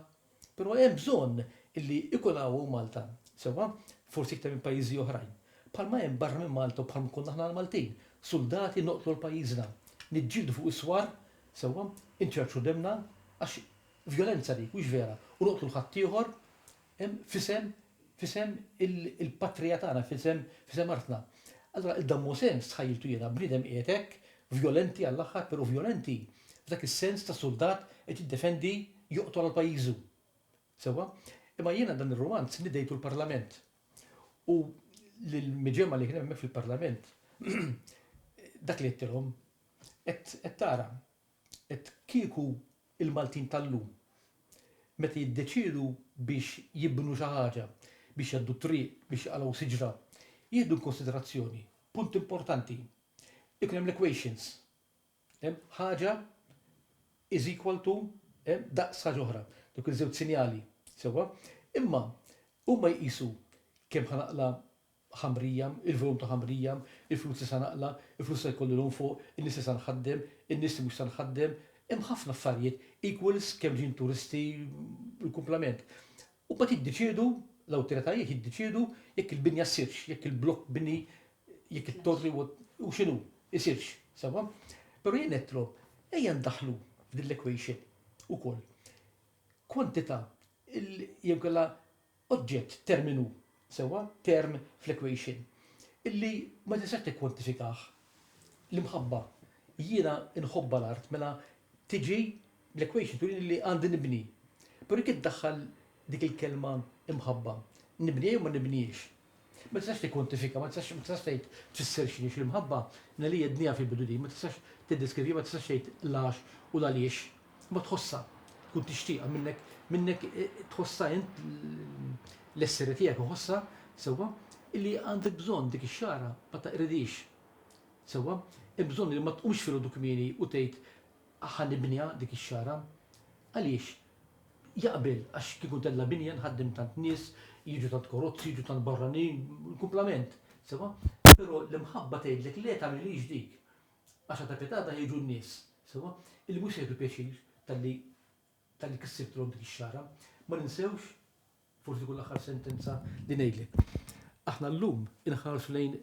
però hemm bżonn illi ikun hawn hawn Malta, sewwa, forsi iktar minn pajjiżi oħrajn, bħalma hemm barra minn Malta u bħalma konna aħna l-Maltin, suldati noqtlu għal pajjiżna, niġġieldu fuq is-swar, sewwa, inċerċru demna, għax vjolenza dik, mhux vera, u noqtlu 'l ħaddieħor, hemm, f'isem F'isem il-Patrija tagħna, f'isem artna. Allura il-Dan Mosè, stħajjiltu jiena, bniedem qiegħed hekk, vjolenti għall-aħħar, però vjolenti f'dak is-sens ta' suldat qed jiddefendi, joqtol għal pajjiżu. Sewwa? Imma jiena dan ir-rumanz nidejtu l-Parlament. U lill-miġemgħa li kien hemm hemmhekk fil-Parlament, dak li għedtilhom, qed tara. Qed kieku il-Maltin tal-lum meta jiddeċiedu biex jibnu xi ħaġa, biex jgħaddu t-triq, biex jqalgħu siġra, jieħdu inkunsiderazzjoni punt importanti, ikun hemm l-equations, ħaġa is equal to daqs ħaġa oħra, dawk iż-żewġ sinjali, sewwa? Imma huma jqisu kemm ħa naqla' ħamrija, il-volum ta' ħamrija, il-flus li sa naqla', il-flus se jkolli l-hawn fuq, in-nies li sa nħaddem, in-nies li mhux sa nħaddem, hemm ħafna affarijiet, equals kemm ġejjin turisti, il-kumplament. U mbagħad jiddeċiedu, l-awtoritajiet jiddeċiedu jekk il-binja ssirx, jekk il-blokk bini, jekk it-torri u u x'inhu, isirx, sewwa? Però jien ngħidtlhom, ejja ndaħħlu f'din l-equation ukoll kwantità jew inkella oġġett, terminu, sewwa, term fl-equation, illi ma tistax tikkwantifikah, l-imħabba, jiena nħobbha l-art, mela tiġi l-equation turini li għandi nibni. Però jekk iddaħħal dik il-kelma imħabba, nibniha jew ma nibnihiex? Ma tistax tikkwantifika, ma tistax ma tistax tgħid tfisser x'inhi l-imħabba, li hi d-dnija fil-bidu din, ma tistax tiddeskriviha, ma tistax tgħid l-għax u l-għaliex, imma tħossha, tkun tixtieqha minnek, minnek tħossha int l-esseri tiegħek iħossha, sewwa, illi għandek bżonn dik ix-xagħra, ma taqridhiex. Sewwa? Hemm bżonn li ma tqumx filgħodu kmieni u tgħid Ħa nibniha dik ix-xagħra. Għaliex? Jaqbel għax kieku tella' binja nħaddem tant nies, jiġu tant Korozzi, jiġu tant barranin, il-kumplament. Sewwa? Però l-imħabba tgħidlek le tagħmilhiex dik. Għax għad ta' pjatata jiġu n-nies. Sewwa? Il-Mhux se jieħdu pjaċir talli ta' dik is-sibt rom dik ix-xagħra. Ma ninsewx, forsi tkun l-aħħar sentenza li ngħidlek. Aħna llum inħarsu lejn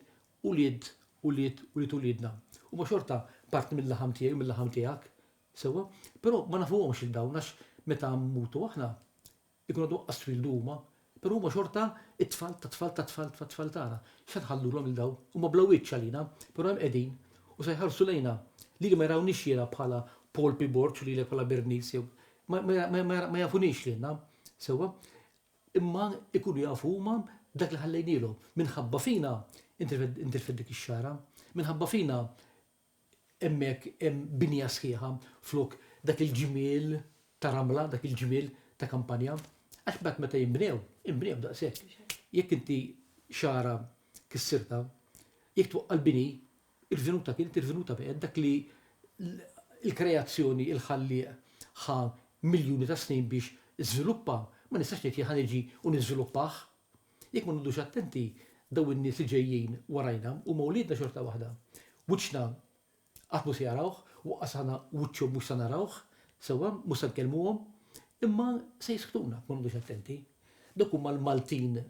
ulied ulied ulied uliedna. Huma xorta parti mil-laħam tiegħi u mil-laħam tiegħek. Sewwa? Però ma nafuhomx lil dawn għax meta mmutu aħna, ikunu għadhom qas twieldu huma, Però huma xorta t-tfal tat-tfal tat-tfal tat-tfal tagħna. X'se nħallulhom lil dawn? Huma bla wiċċ għalina, però hemm qegħdin u se jħarsu lejna. Lili ma jarawniex jiena bħala Paul P. Borg u lilek bħala Bernice jew. Ma jafuniex lilna, sewwa, imma jkunu jafu huma dak li ħallejnielhom. Minħabba fina ntilfet dik ix-xagħra. Minħabba fina hemmhekk hemm binja sħiħa flok dak il-ġmiel ta' ramla, dak il-ġmiel ta' kampanja, għax mbagħad meta jinbnew, inbnew daqshekk. Jekk inti xara kissirta, jekk twaqqa' l-bini, irvinuta kienet irvinuta b'għed dak li l-kreazzjoni il-ħallieq ħa miljuni ta' snin biex żviluppa, ma nistax ngħid jien ħa niġi u niżviluppah. Jekk ma noqgħodux attenti, dawn in-nies li ġejjin warajna huma wliedna xorta waħda. Wiċċna qatt mhu se jarawh, u anqas aħna wiċċhom mhux se narawh, sewwa, mhux se nkellmuhom, imma se jisktuna jekk ma noqgħodux attenti. Dawk huma l-Maltin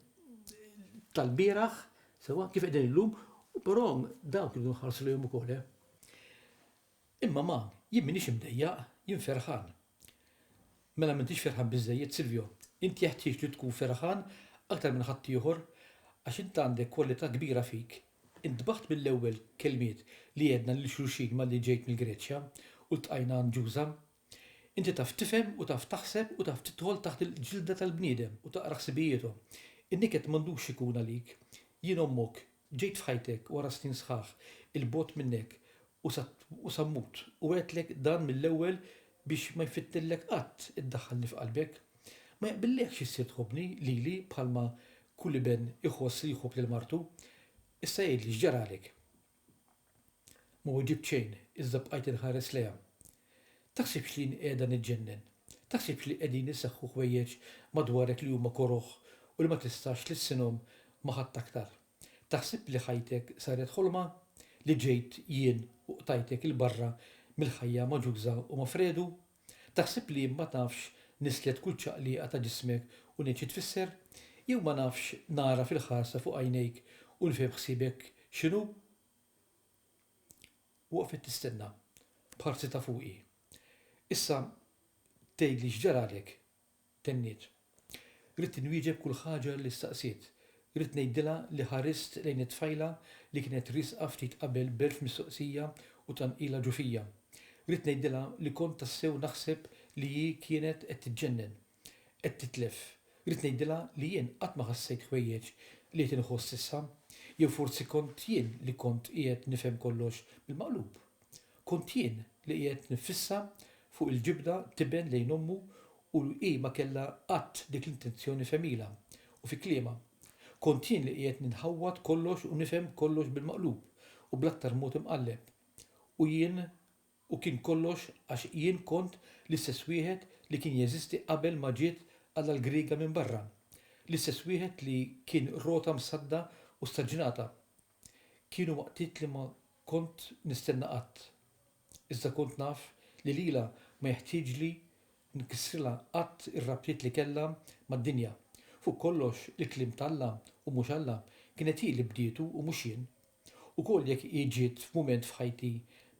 tal-bieraħ, sewwa, kif qegħdin illum, u però dawk irridu nħarsu lejhom ukoll, eh. Imma ma, jien m'iniex imdejjaq, jien ferħan. Mela m'intix ferħan biżżejjed, Silvio. Int jeħtieġ li tkun ferħan aktar minn ħaddieħor għax int għandek kwalità kbira fik. Intbaħt mill-ewwel kelmiet li għedna lil xulxin malli ġejt mill-Greċja u ltqajna għand Ġuża. Inti taf tifhem u taf taħseb u taf tidħol taħt il-ġilda tal-bniedem u taqra ħsibijiethom. In-niket m'għandux ikun għalik. Jien ommok, Ġejt f'ħajtek wara snin sħaħ 'il bogħod minnek u sa u sa mmut u għedtlek dan mill-ewwel biex ma jfittnillek qatt iddaħħalni f'qalbek. Ma jaqbillekx issir tħobbni lili bħalma kull iben iħoss li jħobb lil martu. Issa għidli x'ġaralek? Ma weġibt xejn, iżda bqajt inħares lejha. Taħsibx li jien qiegħda niġġennen? Taħsibx li qegħdin iseħħu ħwejjeġ madwarek li huma koroh u li ma tistax tlissinhom ma' ħadd aktar? Taħsib li ħajtek saret ħolma? Li ġejt jien u qtajtek 'il barra mill-ħajja magħġuża u ma' Fredu? Taħseb li ma nafx nislet kull ċaqliqa ta' ġismek u ngħid xi tfisser? Jew ma nafx nara fil-ħarsa fuq għajnejk u nifhem ħsiebek x'inhu? Waqfet tistenna, b'ħarsi ta' fuqi. Issa tgħidli x'ġaralek, tenniet. Ridt inwieġeb kull ħaġa li staqsiet. Ridt ngħidilha li ħarist lejn it-tfajla li kienet riesqa ftit qabel b'elf mistoqsija u tqanqila ġo fija. Ridt ngħidilha li kont tassew naħseb li hi kienet qed tiġġennen. Qed titlef. Ridt ngħidilha li jien qatt ma ħassejt ħwejjeġ li qed inħoss issa. Jew forsi kont jien li kont qiegħed nifhem kollox bil-maqlub? Kont jien li qiegħed nifissa fuq il-ġibda tiben lejn ommu u li hi ma kellha qatt dik l-intenzjoni f'għemilha u fi kliemha. Kont jien li qiegħed ninħawwad kollox u nifhem kollox bil-maqlub u bl-aktar mod imqalleb. U jien u kien kollox għax jien kont l-istess wieħed li kien jeżisti qabel ma ġiet Alla l-Griega minn barra. L-istess wieħed li kien rota msadda u staġnata. Kienu waqtiet li ma kont nistenna qatt. Iżda kont naf li lilha ma jeħtieġli nkissrilha qatt ir-rabtiet li kellha mad-dinja. Fuq kollox, il-kliem t'Alla, u mhux Alla, kienet hi li bdietu u mhux jien. Ukoll jekk hi ġiet f'mument f'ħajti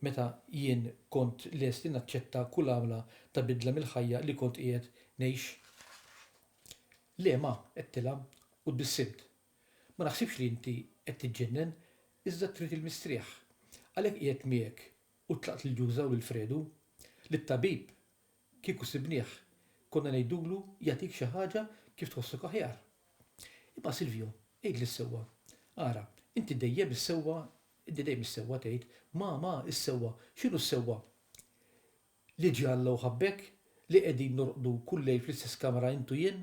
meta jien kont lest li naċċetta kull għamla ta' bidla mill-ħajja li kont qiegħed ngħix. Le, ma, għedtilha u tbissimt. Ma naħsibx li inti qed tiġġennen, iżda trid il-mistrieħ. Għalhekk qiegħed miegħek u tlaqt lil Ġuża u lil Fredu. Lit-tabib, kieku sibnieh, konna ngħidulu jagħtik xi ħaġa kif tħossok aħjar. Imma Silvio, għidli s-sewwa. Ara, inti dejjem is-sewwa, inti dejjem is-sewwa tgħid. Ma, ma, is-sewwa. X'inhu s-sewwa? Li ġie Alla u ħabbek? Li qegħdin norqdu kull lejl fl-istess kamra int u jien?